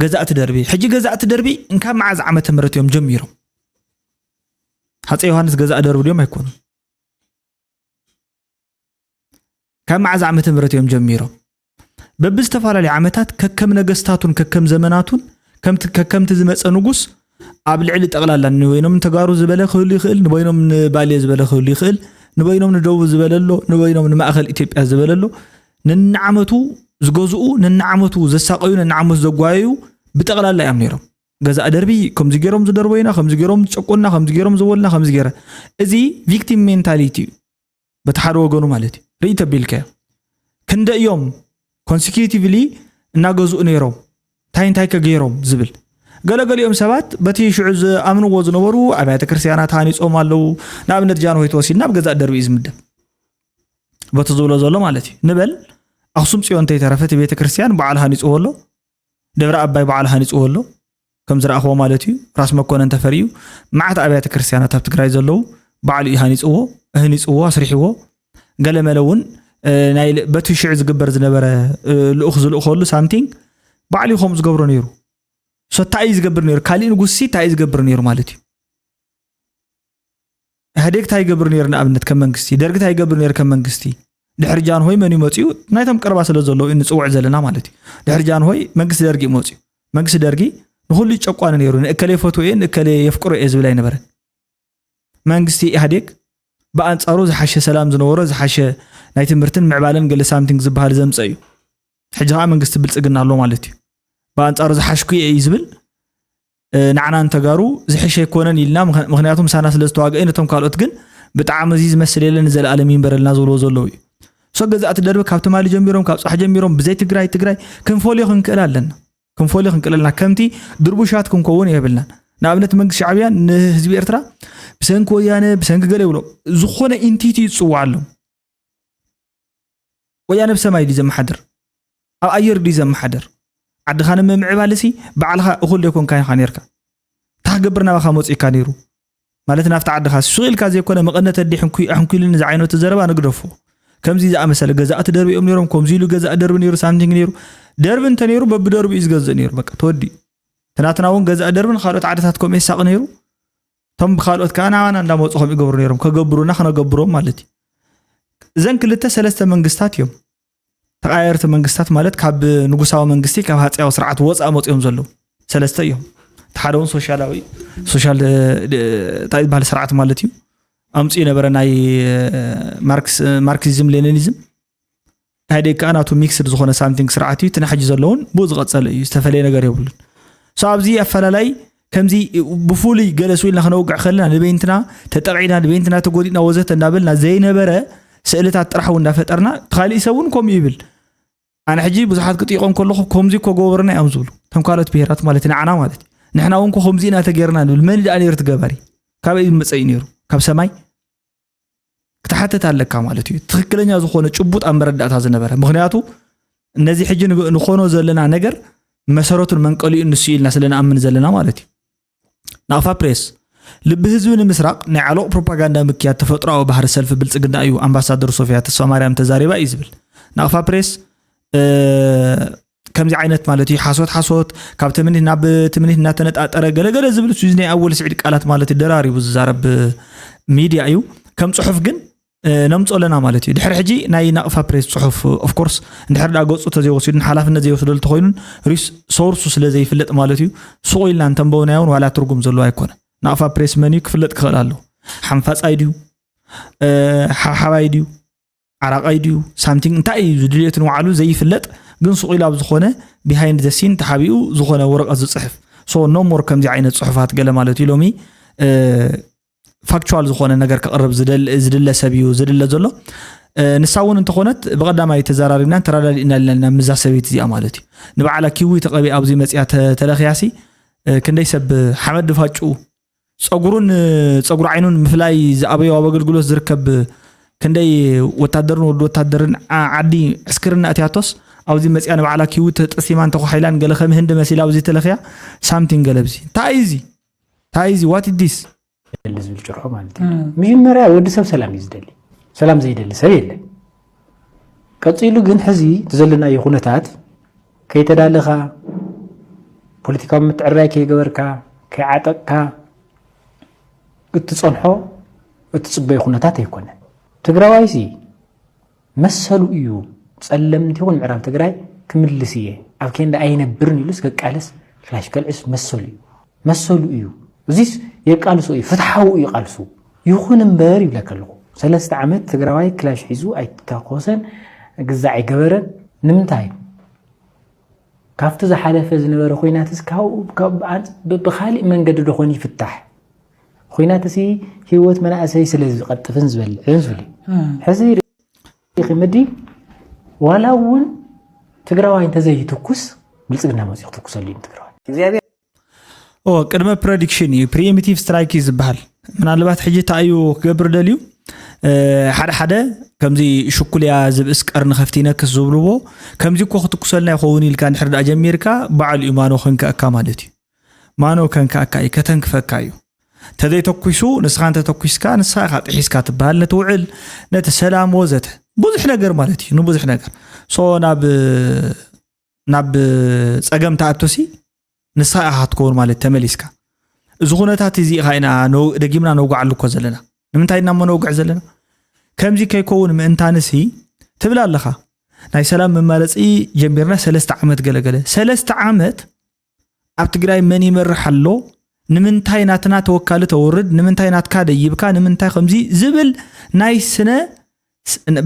ገዛእቲ ደርቢ ሕጂ ገዛእቲ ደርቢ እንካብ መዓዝ ዓመተ ምህረት እዮም ጀሚሮም ሃፀ ዮሃንስ ገዛእ ደርቢ ድዮም ኣይኮኑን ካብ መዓዝ ዓመተ ምህረት እዮም ጀሚሮም በብዝተፈላለዩ ዓመታት ከከም ነገስታቱን ከከም ዘመናቱን ከከምቲ ዝመፀ ንጉስ ኣብ ልዕሊ ጠቕላላ ንበይኖም ንተጋሩ ዝበለ ክህሉ ይኽእል ንበይኖም ንባሌ ዝበለ ክህሉ ይኽእል ንበይኖም ንደቡብ ዝበለሎ ንበይኖም ንማእኸል ኢትዮጵያ ዝበለሎ ነናዓመቱ ዝገዝኡ ነናዓመቱ ዘሳቀዩ ነናዓመቱ ዘጓየዩ ብጠቕላላ እዮም ነይሮም ገዛእ ደርቢ ከምዚ ገይሮም ዝደርበዩና ከምዚ ገይሮም ዝጨቆንና ከምዚ ገይሮም ዝበሉና ከምዚ ገይረ እዚ ቪክቲም ሜንታሊቲ እዩ በቲ ሓደ ወገኑ ማለት እዩ ርኢ ተቢልካዮ ክንደ እዮም ኮንሲኪቲቭሊ እናገዝኡ ነይሮም እንታይ እንታይ ከገይሮም ዝብል ገለገሊኦም ሰባት በቲ ሽዑ ዝኣምንዎ ዝነበሩ ኣብያተ ክርስትያናት ሃኒፆም ኣለዉ ንኣብነት ጃንሆይ ተወሲድና ኣብ ገዛእ ደርቢ እዩ ዝምደብ በቲ ዝብሎ ዘሎ ማለት እዩ ንበል ኣክሱም ፅዮን እንተይተረፈ እቲ ቤተ ክርስትያን በዓል ሃኒፅዎ ኣሎ ደብረ ኣባይ ባዕሉ ሃኒፅዎ ኣሎ ከም ዝረኣኽዎ ማለት እዩ ራስ መኮነን ተፈሪ እዩ መዓት ኣብያተ ክርስትያናት ኣብ ትግራይ ዘለዉ ባዕሉ እዩ ሃኒፅዎ ህኒፅዎ ኣስሪሕዎ ገለ መለ እውን ናይ በቲ ሽዑ ዝግበር ዝነበረ ልኡኽ ዝልእኸሉ ሳምቲንግ ባዕሉ ከምኡ ዝገብሮ ነይሩ ሶ እንታይ እዩ ዝገብር ነይሩ ካሊእ ንጉስሲ እንታይ እዩ ዝገብር ነይሩ ማለት እዩ ኢህኣዴግ እንታይ ይገብር ነይሩ ንኣብነት ከም መንግስቲ ደርጊ እንታይ ይገብር ነይሩ ከም መንግስቲ ድሕሪ ጃንሆይ መን እዩ መፅኡ ናይቶም ቀረባ ስለ ዘለዉ እዩ ንፅውዕ ዘለና ማለት እዩ ድሕሪ ጃንሆይ መንግስቲ ደርጊ እዩ መፅኡ መንግስቲ ደርጊ ንኩሉ ጨቋኒ ነይሩ ንእከለ የፈትዎ እየ ንእከለ የፍቅሮ እየ ዝብል ኣይነበረ መንግስቲ ኢህኣዴግ ብኣንፃሩ ዝሓሸ ሰላም ዝነበሮ ዝሓሸ ናይ ትምህርትን ምዕባለን ገለ ሳምቲንግ ዝበሃል ዘምፀ እዩ ሕጂ ከዓ መንግስቲ ብልፅግና ኣሎ ማለት እዩ ብኣንፃሩ ዝሓሽኩ እየ እዩ ዝብል ንዓና ንተጋሩ ዝሕሸ ኣይኮነን ኢልና ምክንያቱ ምሳና ስለ ዝተዋግአ ነቶም ካልኦት ግን ብጣዕሚ እዚ ዝመስል የለን ንዘለኣለም ይንበረልና ዝብልዎ ዘለዉ እዩ ሶ ገዛእቲ ደርቢ ካብ ትማሊ ጀሚሮም ካብ ፃሕ ጀሚሮም ብዘይ ትግራይ ትግራይ ክንፈልዮ ክንክእል ኣለና ክንፈልዮ ክንክእል ኣለና ከምቲ ድርቡሻት ክንከውን የብልናን ንኣብነት መንግስቲ ሻዕብያ ንህዝቢ ኤርትራ ብሰንኪ ወያነ ብሰንኪ ገለ ይብሎ ዝኾነ ኢንቲቲ ይፅዋዕ ኣሎ ወያነ ብ ሰማይ ድዩ ዘመሓድር? ኣብ ኣየር ድዩ ዘመሓድር? ዓድኻ ንምምዕባልሲ ባዕልኻ እኹል ዘይኮንካ ኢኻ ኔርካ። እንታይ ክገብር ናባኻ መጺኡካ ነይሩ? ማለት ናብቲ ዓድኻ ሱቕ ኢልካ ዘይኮነ መቐነት ኣዲ ሕንኩይ ኣሕንኩይልኒ ዝዓይነቱ ዘረባ ንግደፎ። ከምዚ ዝኣመሰለ ገዛእቲ ደርቢኦም ነይሮም፣ ከምዚ ኢሉ ገዛእ ደርቢ ነይሩ፣ ሳምቲንግ ነይሩ። ደርቢ እንተ ነይሩ በብደርቡ እዩ ዝገዝእ ነይሩ። በቃ ተወዲኡ። እቲ ናትና እውን ገዛእ ደርብን ካልኦት ዓድታት ከምኡ የሳቒ ነይሩ። እቶም ብካልኦት ከዓ ናባና እንዳመፁ ከም ይገብሩ ነይሮም ከገብሩና ክነገብሮም ማለት እዩ እዘን ክልተ ሰለስተ መንግስታት እዮም ተቃየርቲ መንግስታት ማለት ካብ ንጉሳዊ መንግስቲ ካብ ሃፀያዊ ስርዓት ወፃእ መፅኦም ዘለዉ ሰለስተ እዮም እቲ ሓደ እውን ሶሻላዊ ሶሻል እንታይ ዝበሃል ስርዓት ማለት እዩ ኣምፅኡ ነበረ ናይ ማርክሲዝም ሌኒኒዝም ናይ ደቂ ኣናቱ ሚክስድ ዝኾነ ሳምቲንግ ስርዓት እዩ እቲ ናሕጂ ዘለውን ብኡ ዝቐፀለ እዩ ዝተፈለየ ነገር የብሉን ሶ ኣብዚ ኣፈላላይ ከምዚ ብፍሉይ ገለ ስኢልና ክነውግዕ ከለና ንበይንትና ተጠቂዕና ንበይንትና ተጎዲእና ወዘተ እናበልና ዘይነበረ ስእልታት ጥራሕ እውን እናፈጠርና ካሊእ ሰብ እውን ከምኡ ይብል ኣነ ሕጂ ብዙሓት ክጥይቆም ከለኹ ከምዚ እኮ ገበርና እዮም ዝብሉ እቶም ካልኦት ብሄራት ማለት ንዓና ማለት እዩ ንሕና እውን ከምዚ ኢና ተገይርና ንብል መን ደኣ ነይሩ ትገበሪ ካበይ መፀ እዩ ነይሩ ካብ ሰማይ ክትሓትት ኣለካ ማለት እዩ ትክክለኛ ዝኾነ ጭቡጥ ኣብ መረዳእታ ዝነበረ ምክንያቱ እነዚ ሕጂ ንኾኖ ዘለና ነገር መሰረቱን መንቀሊኡን ንሱ ኢልና ስለንኣምን ዘለና ማለት እዩ ናቕፋ ፕሬስ ልቢ ህዝቢ ንምስራቕ ናይ ዓለቕ ፕሮፓጋንዳ ምክያድ ተፈጥሮዊ ባህሪ ሰልፊ ብልፅግና እዩ ኣምባሳደር ሶፊያ ተስፋ ማርያም ተዛሪባ እዩ ዝብል ናቕፋ ፕሬስ ከምዚ ዓይነት ማለት እዩ ሓሶት ሓሶት ካብ ትምኒት ናብ ትምኒት እናተነጣጠረ ገለገለ ዝብል እዚ ናይ ኣወል ስዒድ ቃላት ማለት እዩ ደራሪቡ ዝዛረብ ሚድያ እዩ ከም ፅሑፍ ግን ነምፆ ኣለና ማለት እዩ ድሕሪ ሕጂ ናይ ናቕፋ ፕሬስ ፅሑፍ ኦፍኮርስ እንድሕር ዳ ገፁ ተዘይወሲዱን ሓላፍነት ዘይወስደሉ ተኮይኑን ሪስ ሶርሱ ስለ ዘይፍለጥ ማለት እዩ ሱቕ ኢልና እንተንበብናዮ እውን ዋላ ትርጉም ዘለዎ ኣይኮነ ናቕፋ ፕሬስ መን እዩ ክፍለጥ ክኽእል ኣለዎ ሓንፋፃይ ድዩ ሓብሓባይ ድዩ ዓራቃይ ድዩ ሳምቲንግ እንታይ እዩ ዝድልዮት ንባዕሉ ዘይፍለጥ ግን ሱቕ ኢሉ ኣብ ዝኾነ ቢሃይንድ ዘ ሲን ተሓቢኡ ዝኾነ ወረቐት ዝፅሕፍ ሶ ኖ ሞር ከምዚ ዓይነት ፅሑፋት ገለ ማለት እዩ ሎሚ ፋክቹዋል ዝኾነ ነገር ክቕርብ ዝድለ ሰብ እዩ ዝድለ ዘሎ ንሳ እውን እንተኾነት ብቐዳማይ ተዘራሪብና ተረዳዲእና ኣለና ኣለና ምዛ ሰበይቲ እዚኣ ማለት እዩ ንበዓላ ኪዊ ተቐቢኣ ኣብዚ መፅያ ተለኽያሲ ክንደይ ሰብ ሓመድ ድፋጩ ፀጉሩን ፀጉሪ ዓይኑን ምፍላይ ዝኣበዮ ኣብ ኣገልግሎት ዝርከብ ክንደይ ወታደርን ወዲ ወታደርን ዓዲ ዕስክርና እትያቶስ ኣብዚ መፅያ ንባዕላ ኪዊ ተጠሲማን ተኳሒላን ገለ ከም ህንዲ መሲላ ኣብዚ ተለኽያ ሳምቲንግ ገለ ብዚ እንታይ እዩ እዚ እንታይ እዚ ዋት ዲስ ዝብል ጭርሖ ማለት እዩ መጀመርያ ወዲ ሰብ ሰላም እዩ ዝደሊ ሰላም ዘይደሊ ሰብ የለን ቀጺሉ ግን ሕዚ እቲ ዘለናዮ ኩነታት ከይተዳለኻ ፖለቲካዊ ምትዕርራይ ከይገበርካ ከይዓጠቕካ እትጸንሖ እትጽበዮ ኩነታት ኣይኮነን። ትግራዋይሲ መሰሉ እዩ ጸለምቲ ይኹን ምዕራብ ትግራይ ክምልስ እየ ኣብ ኬንዳ ኣይነብርን ኢሉስ ከቃልስ ክላሽ ከልዕስ መሰሉ እዩ። መሰሉ እዩ እዚስ የቃልሶ እዩ ፍትሓዊ እዩ ቃልሱ ይኹን እምበር ይብለከ ኣለኹ ሰለስተ ዓመት ትግራዋይ ክላሽ ሒዙ ኣይተኮሰን ግዛ ኣይገበረን ንምንታይ ካብቲ ዝሓለፈ ዝነበረ ኮይናትስ ብካሊእ መንገዲ ዶኾን ይፍታሕ ኮይናት እዚ ሂወት መናእሰይ ስለ ዝቐጥፍን ዝበልዕን ዝብል ሕዚ ሪኺምዲ ዋላ እውን ትግራዋይ እንተዘይትኩስ ብልፅግና መፅኡ ክትኩሰሉ እዩ ትግራዋይ ቅድመ ፕረዲክሽን እዩ ፕሪሚቲቭ ስትራይክ እዩ ዝበሃል ምናልባት ሕጂ እታ እዩ ክገብር ደልዩ ሓደ ሓደ ከምዚ ሽኩልያ ዝብእስ ቀርኒ ከፍቲ ይነክስ ዝብልዎ ከምዚ እኮ ክትኩሰልና ይኸውን ኢልካ ንሕር ዳኣ ጀሚርካ በዓል እዩ ማኖ ከንከኣካ ማለት እዩ ማኖ ከንከኣካ እዩ ከተንክፈካ እዩ ተዘይተኩሱ ንስኻ እንተተኩስካ ንስኻ ኢኻ ጥሒስካ ትበሃል ነቲ ውዕል ነቲ ሰላም ወዘተ ብዙሕ ነገር ማለት እዩ ንብዙሕ ነገር ሶ ናብ ናብ ፀገም ተኣቶሲ ንስኻ ኢኻ ክትከውን ማለት ተመሊስካ እዚ ኩነታት እዚ ኢኻ ኢና ደጊምና ነውግዓሉ እኮ ዘለና ንምንታይ ኢና እሞ ነውግዕ ዘለና ከምዚ ከይከውን ምእንታንሲ ትብል ኣለኻ ናይ ሰላም መማረፂ ጀሚርና ሰለስተ ዓመት ገለገለ ሰለስተ ዓመት ኣብ ትግራይ መን ይመርሕ ኣሎ ንምንታይ ናትና ተወካሊ ተወርድ ንምንታይ ናትካ ደይብካ ንምንታይ ከምዚ ዝብል ናይ ስነ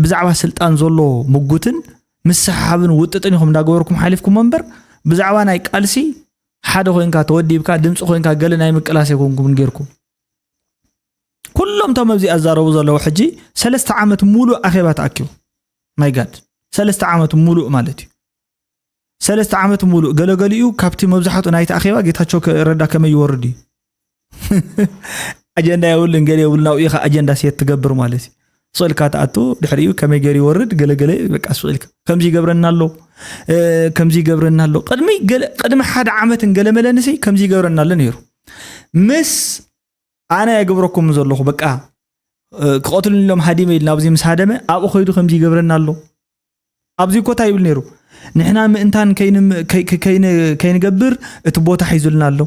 ብዛዕባ ስልጣን ዘሎ ምጉትን ምስሓብን ውጥጥን ኢኹም እንዳገበርኩም ሓሊፍኩም እምበር ብዛዕባ ናይ ቃልሲ ሓደ ኮንካ ተወዲብካ ድምፂ ኮንካ ገለ ናይ ምቅላስ ኣይኮንኩምን ጌርኩም ኩሎም እቶም ኣብዚ ኣዛረቡ ዘለዉ ሕጂ ሰለስተ ዓመት ሙሉእ ኣኼባ ተኣኪቡ ማይ ጋድ ሰለስተ ዓመት ሙሉእ ማለት እዩ ሰለስተ ዓመት ሙሉእ ገለገሊኡ ካብቲ መብዛሕትኡ ናይቲ ኣኼባ ጌታቸው ረዳ ከመይ ይወርድ እዩ ኣጀንዳ የብሉን ገለ የብሉን ኣብኡ ኢኻ ኣጀንዳ ሴት ትገብር ማለት እዩ ስእልካ ትኣቱ ድሕሪኡ ከመይ ገይሩ ይወርድ ገለገለ በቃ ስእልካ ከምዚ ይገብረና ኣሎ ከምዚ ይገብረና ኣሎ ቅድሚ ቅድሚ ሓደ ዓመትን ገለመለንሲ ከምዚ ይገብረና ኣሎ ነይሩ ምስ ኣነ ኣይገብረኩም ዘለኹ በቃ ክቐትሉኒ ኢሎም ሃዲመ ኢሉ ናብዚ ምስ ሃደመ ኣብኡ ከይዱ ከምዚ ይገብረና ኣሎ ኣብዚ እኮ እንታይ ይብል ነይሩ ንሕና ምእንታን ከይንገብር እቲ ቦታ ሒዙልና ኣሎ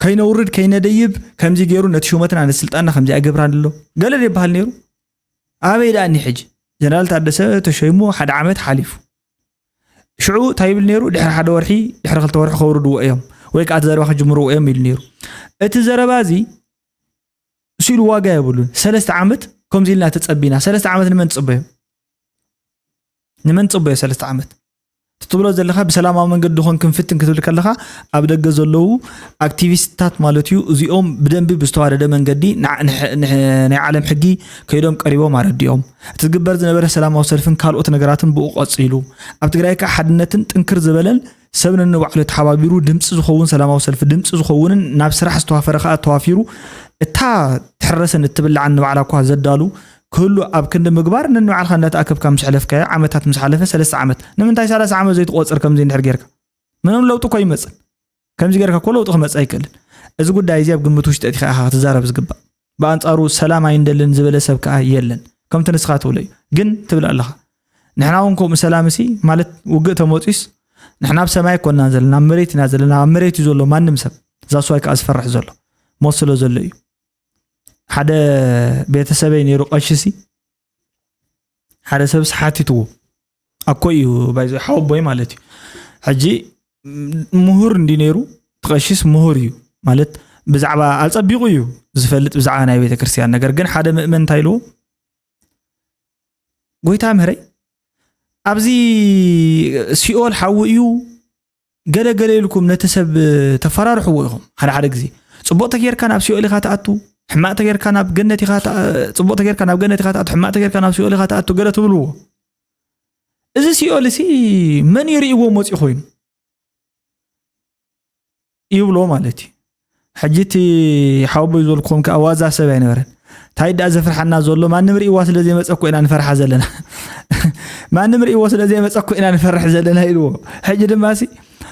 ከይነውርድ ከይነደይብ ከምዚ ገይሩ ነቲ ሹመትና ነቲ ስልጣንና ከምዚ ኣይገብራን ኣሎ ገለ ዘይበሃል ነይሩ ኣበይ ደኣኒ ሕጂ ጀነራል ታደሰ ተሸይሙ ሓደ ዓመት ሓሊፉ ሽዑ እንታይ ይብል ነይሩ ድሕሪ ሓደ ወርሒ ድሕሪ ክልተ ወርሒ ከውርድዎ እዮም ወይ ከዓ እቲ ዘረባ ክጅምርዎ እዮም ኢሉ ነይሩ እቲ ዘረባ እዚ ስኢሉ ዋጋ የብሉን ሰለስተ ዓመት ከምዚ ኢልና ተፀቢና ሰለስተ ዓመት ንመን ትፅበዮ ንመን ትፅበዮ ሰለስተ ዓመት ትብሎ ዘለካ ብሰላማዊ መንገዲ ኾን ክንፍትን ክትብል ከለካ ኣብ ደገ ዘለዉ ኣክቲቪስትታት ማለት እዩ እዚኦም ብደንቢ ብዝተዋደደ መንገዲ ናይ ዓለም ሕጊ ከይዶም ቀሪቦም ኣረዲኦም እቲ ዝግበር ዝነበረ ሰላማዊ ሰልፍን ካልኦት ነገራትን ብኡ ቀፂሉ። ኣብ ትግራይ ከዓ ሓድነትን ጥንክር ዝበለን ሰብ ነንባዕሉ ተሓባቢሩ ድምፂ ዝኸውን ሰላማዊ ሰልፊ ድምፂ ዝኸውንን ናብ ስራሕ ዝተዋፈረ ከዓ ተዋፊሩ እታ ትሕረሰን እትብላዕን ንባዕላ እኳ ዘዳሉ ክህሉ ኣብ ክንዲ ምግባር ነንባዕልካ እንዳተኣከብካ ምስ ሕለፍካዮ ዓመታት ምስ ሓለፈ ሰለስተ ዓመት ንምንታይ ሰላሳ ዓመት ዘይትቆፅር ከምዚ እንድሕር ጌርካ ምንም ለውጢ እኮ ኣይመፅን ከምዚ ጌርካ እኮ ለውጢ ክመፅእ ኣይክእልን እዚ ጉዳይ እዚ ኣብ ግምት ውሽጢ ኣእቲኻ ኢኻ ክትዛረብ ዝግባእ ብኣንጻሩ ሰላም ኣይንደልን ዝበለ ሰብ ከዓ የለን ከምቲ ንስኻ ትብሎ እዩ ግን ትብል ኣለኻ ንሕና እውን ከምኡ ሰላም እሲ ማለት ውግእ ተመፅዩስ ንሕና ኣብ ሰማይ ኮናን ዘለና ኣብ መሬት ኢና ዘለና ኣብ መሬት እዩ ዘሎ ማንም ሰብ እዛ ስዋይ ከዓ ዝፈርሕ ዘሎ ሞት ስለ ዘሎ እዩ ሓደ ቤተሰበይ ነይሩ ቀሺ ሲ ሓደ ሰብስ ሓቲትዎ ኣኮ እዩ ባይዘ ሓወቦይ ማለት እዩ ሕጂ ምሁር እንዲ ነይሩ ትቐሽስ ምሁር እዩ ማለት ብዛዕባ ኣፀቢቑ እዩ ዝፈልጥ ብዛዕባ ናይ ቤተ ክርስትያን ነገር ግን ሓደ ምእመን እንታይ ኢልዎ ጎይታ ምህረይ ኣብዚ ሲኦል ሓዊ እዩ ገለ ገለ ኢልኩም ነቲ ሰብ ተፈራርሕዎ ኢኹም ሓደ ሓደ ግዜ ጽቡቕ ተጌርካ ናብ ሲኦል ኢኻ ትኣቱ ሕማቕ ተጌርካ ናብ ገነት ኢኻ ጽቡቕ ተጌርካ ናብ ገነት ኢኻ ትኣቱ ሕማቕ ተጌርካ ናብ ሲኦል ኢኻ ትኣቱ ገለ ትብልዎ እዚ ሲኦል እዚ መን ይርእዎ መፂኡ ኮይኑ ይብሎ ማለት እዩ ሕጂ እቲ ሓወቦይ ዝበልኩኹም ከዓ ዋዛ ሰብ ኣይነበረን እንታይ ደኣ ዘፍርሓና ዘሎ ማንም ርእይዋ ስለ ዘይመፀ እኮ ኢና ንፈርሓ ዘለና ማንም ርእይዎ ስለ ዘይመፀ እኮ ኢና ንፈርሕ ዘለና ኢልዎ ሕጂ ድማ ሲ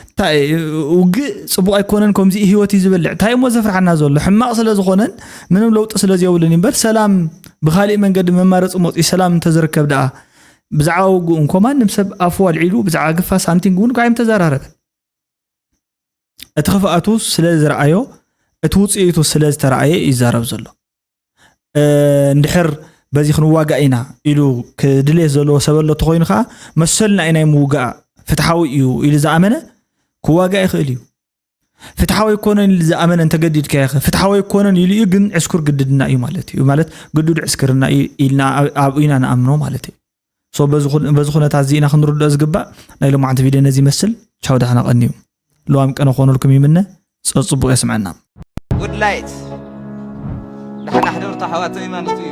እንታይ ውግእ ፅቡቅ ኣይኮነን ከምዚ ሂወት እዩ ዝበልዕ እንታይ እሞ ዘፍርሓና ዘሎ ሕማቅ ስለ ዝኾነን ምንም ለውጢ ስለ ዘየብሉን እምበር ሰላም ብካሊእ መንገዲ መማረፂ መፅኡ ሰላም እንተዝርከብ ደኣ ብዛዕባ ውግእ እንኮ ማንም ሰብ ኣፉ ኣልዒሉ ብዛዕባ ግፋ ሳምቲንግ እውን ኳ ተዘራረበን እቲ ክፍኣቱ ስለ ዝረኣዮ እቲ ውፅኢቱ ስለ ዝተረኣየ እዩ ይዛረብ ዘሎ እንድሕር በዚ ክንዋጋእ ኢና ኢሉ ክድሌት ዘለዎ ሰብ ኣሎ ተኮይኑ ከዓ መሰልና እዩ ናይ ምውጋእ ፍትሓዊ እዩ ኢሉ ዝኣመነ ክዋጋእ ይኽእል እዩ ፍትሓዊ ኣይኮነን ኢሉ ዝኣመነ እንተገዲድካ ይኸ ፍትሓዊ ኣይኮነን ኢሉ እዩ ግን ዕስኩር ግድድና እዩ ማለት እዩ ማለት ግዱድ ዕስክርና እዩ ኢልና ኣብኡና ንኣምኖ ማለት እዩ ሶ በዚ ኩነታት እዚ ኢና ክንርድኦ ዝግባእ ናይ ሎማዓንቲ ቪድዮ ነዚ ይመስል ቻው ዳሕና ቀንዩ ልዋም ቀነ ክኾነልኩም ይምነ ጸጽቡቕ የስምዐና ጉድ ላይት ዳሕና ሕደርቱ ኣሕዋተይ ማለት እዩ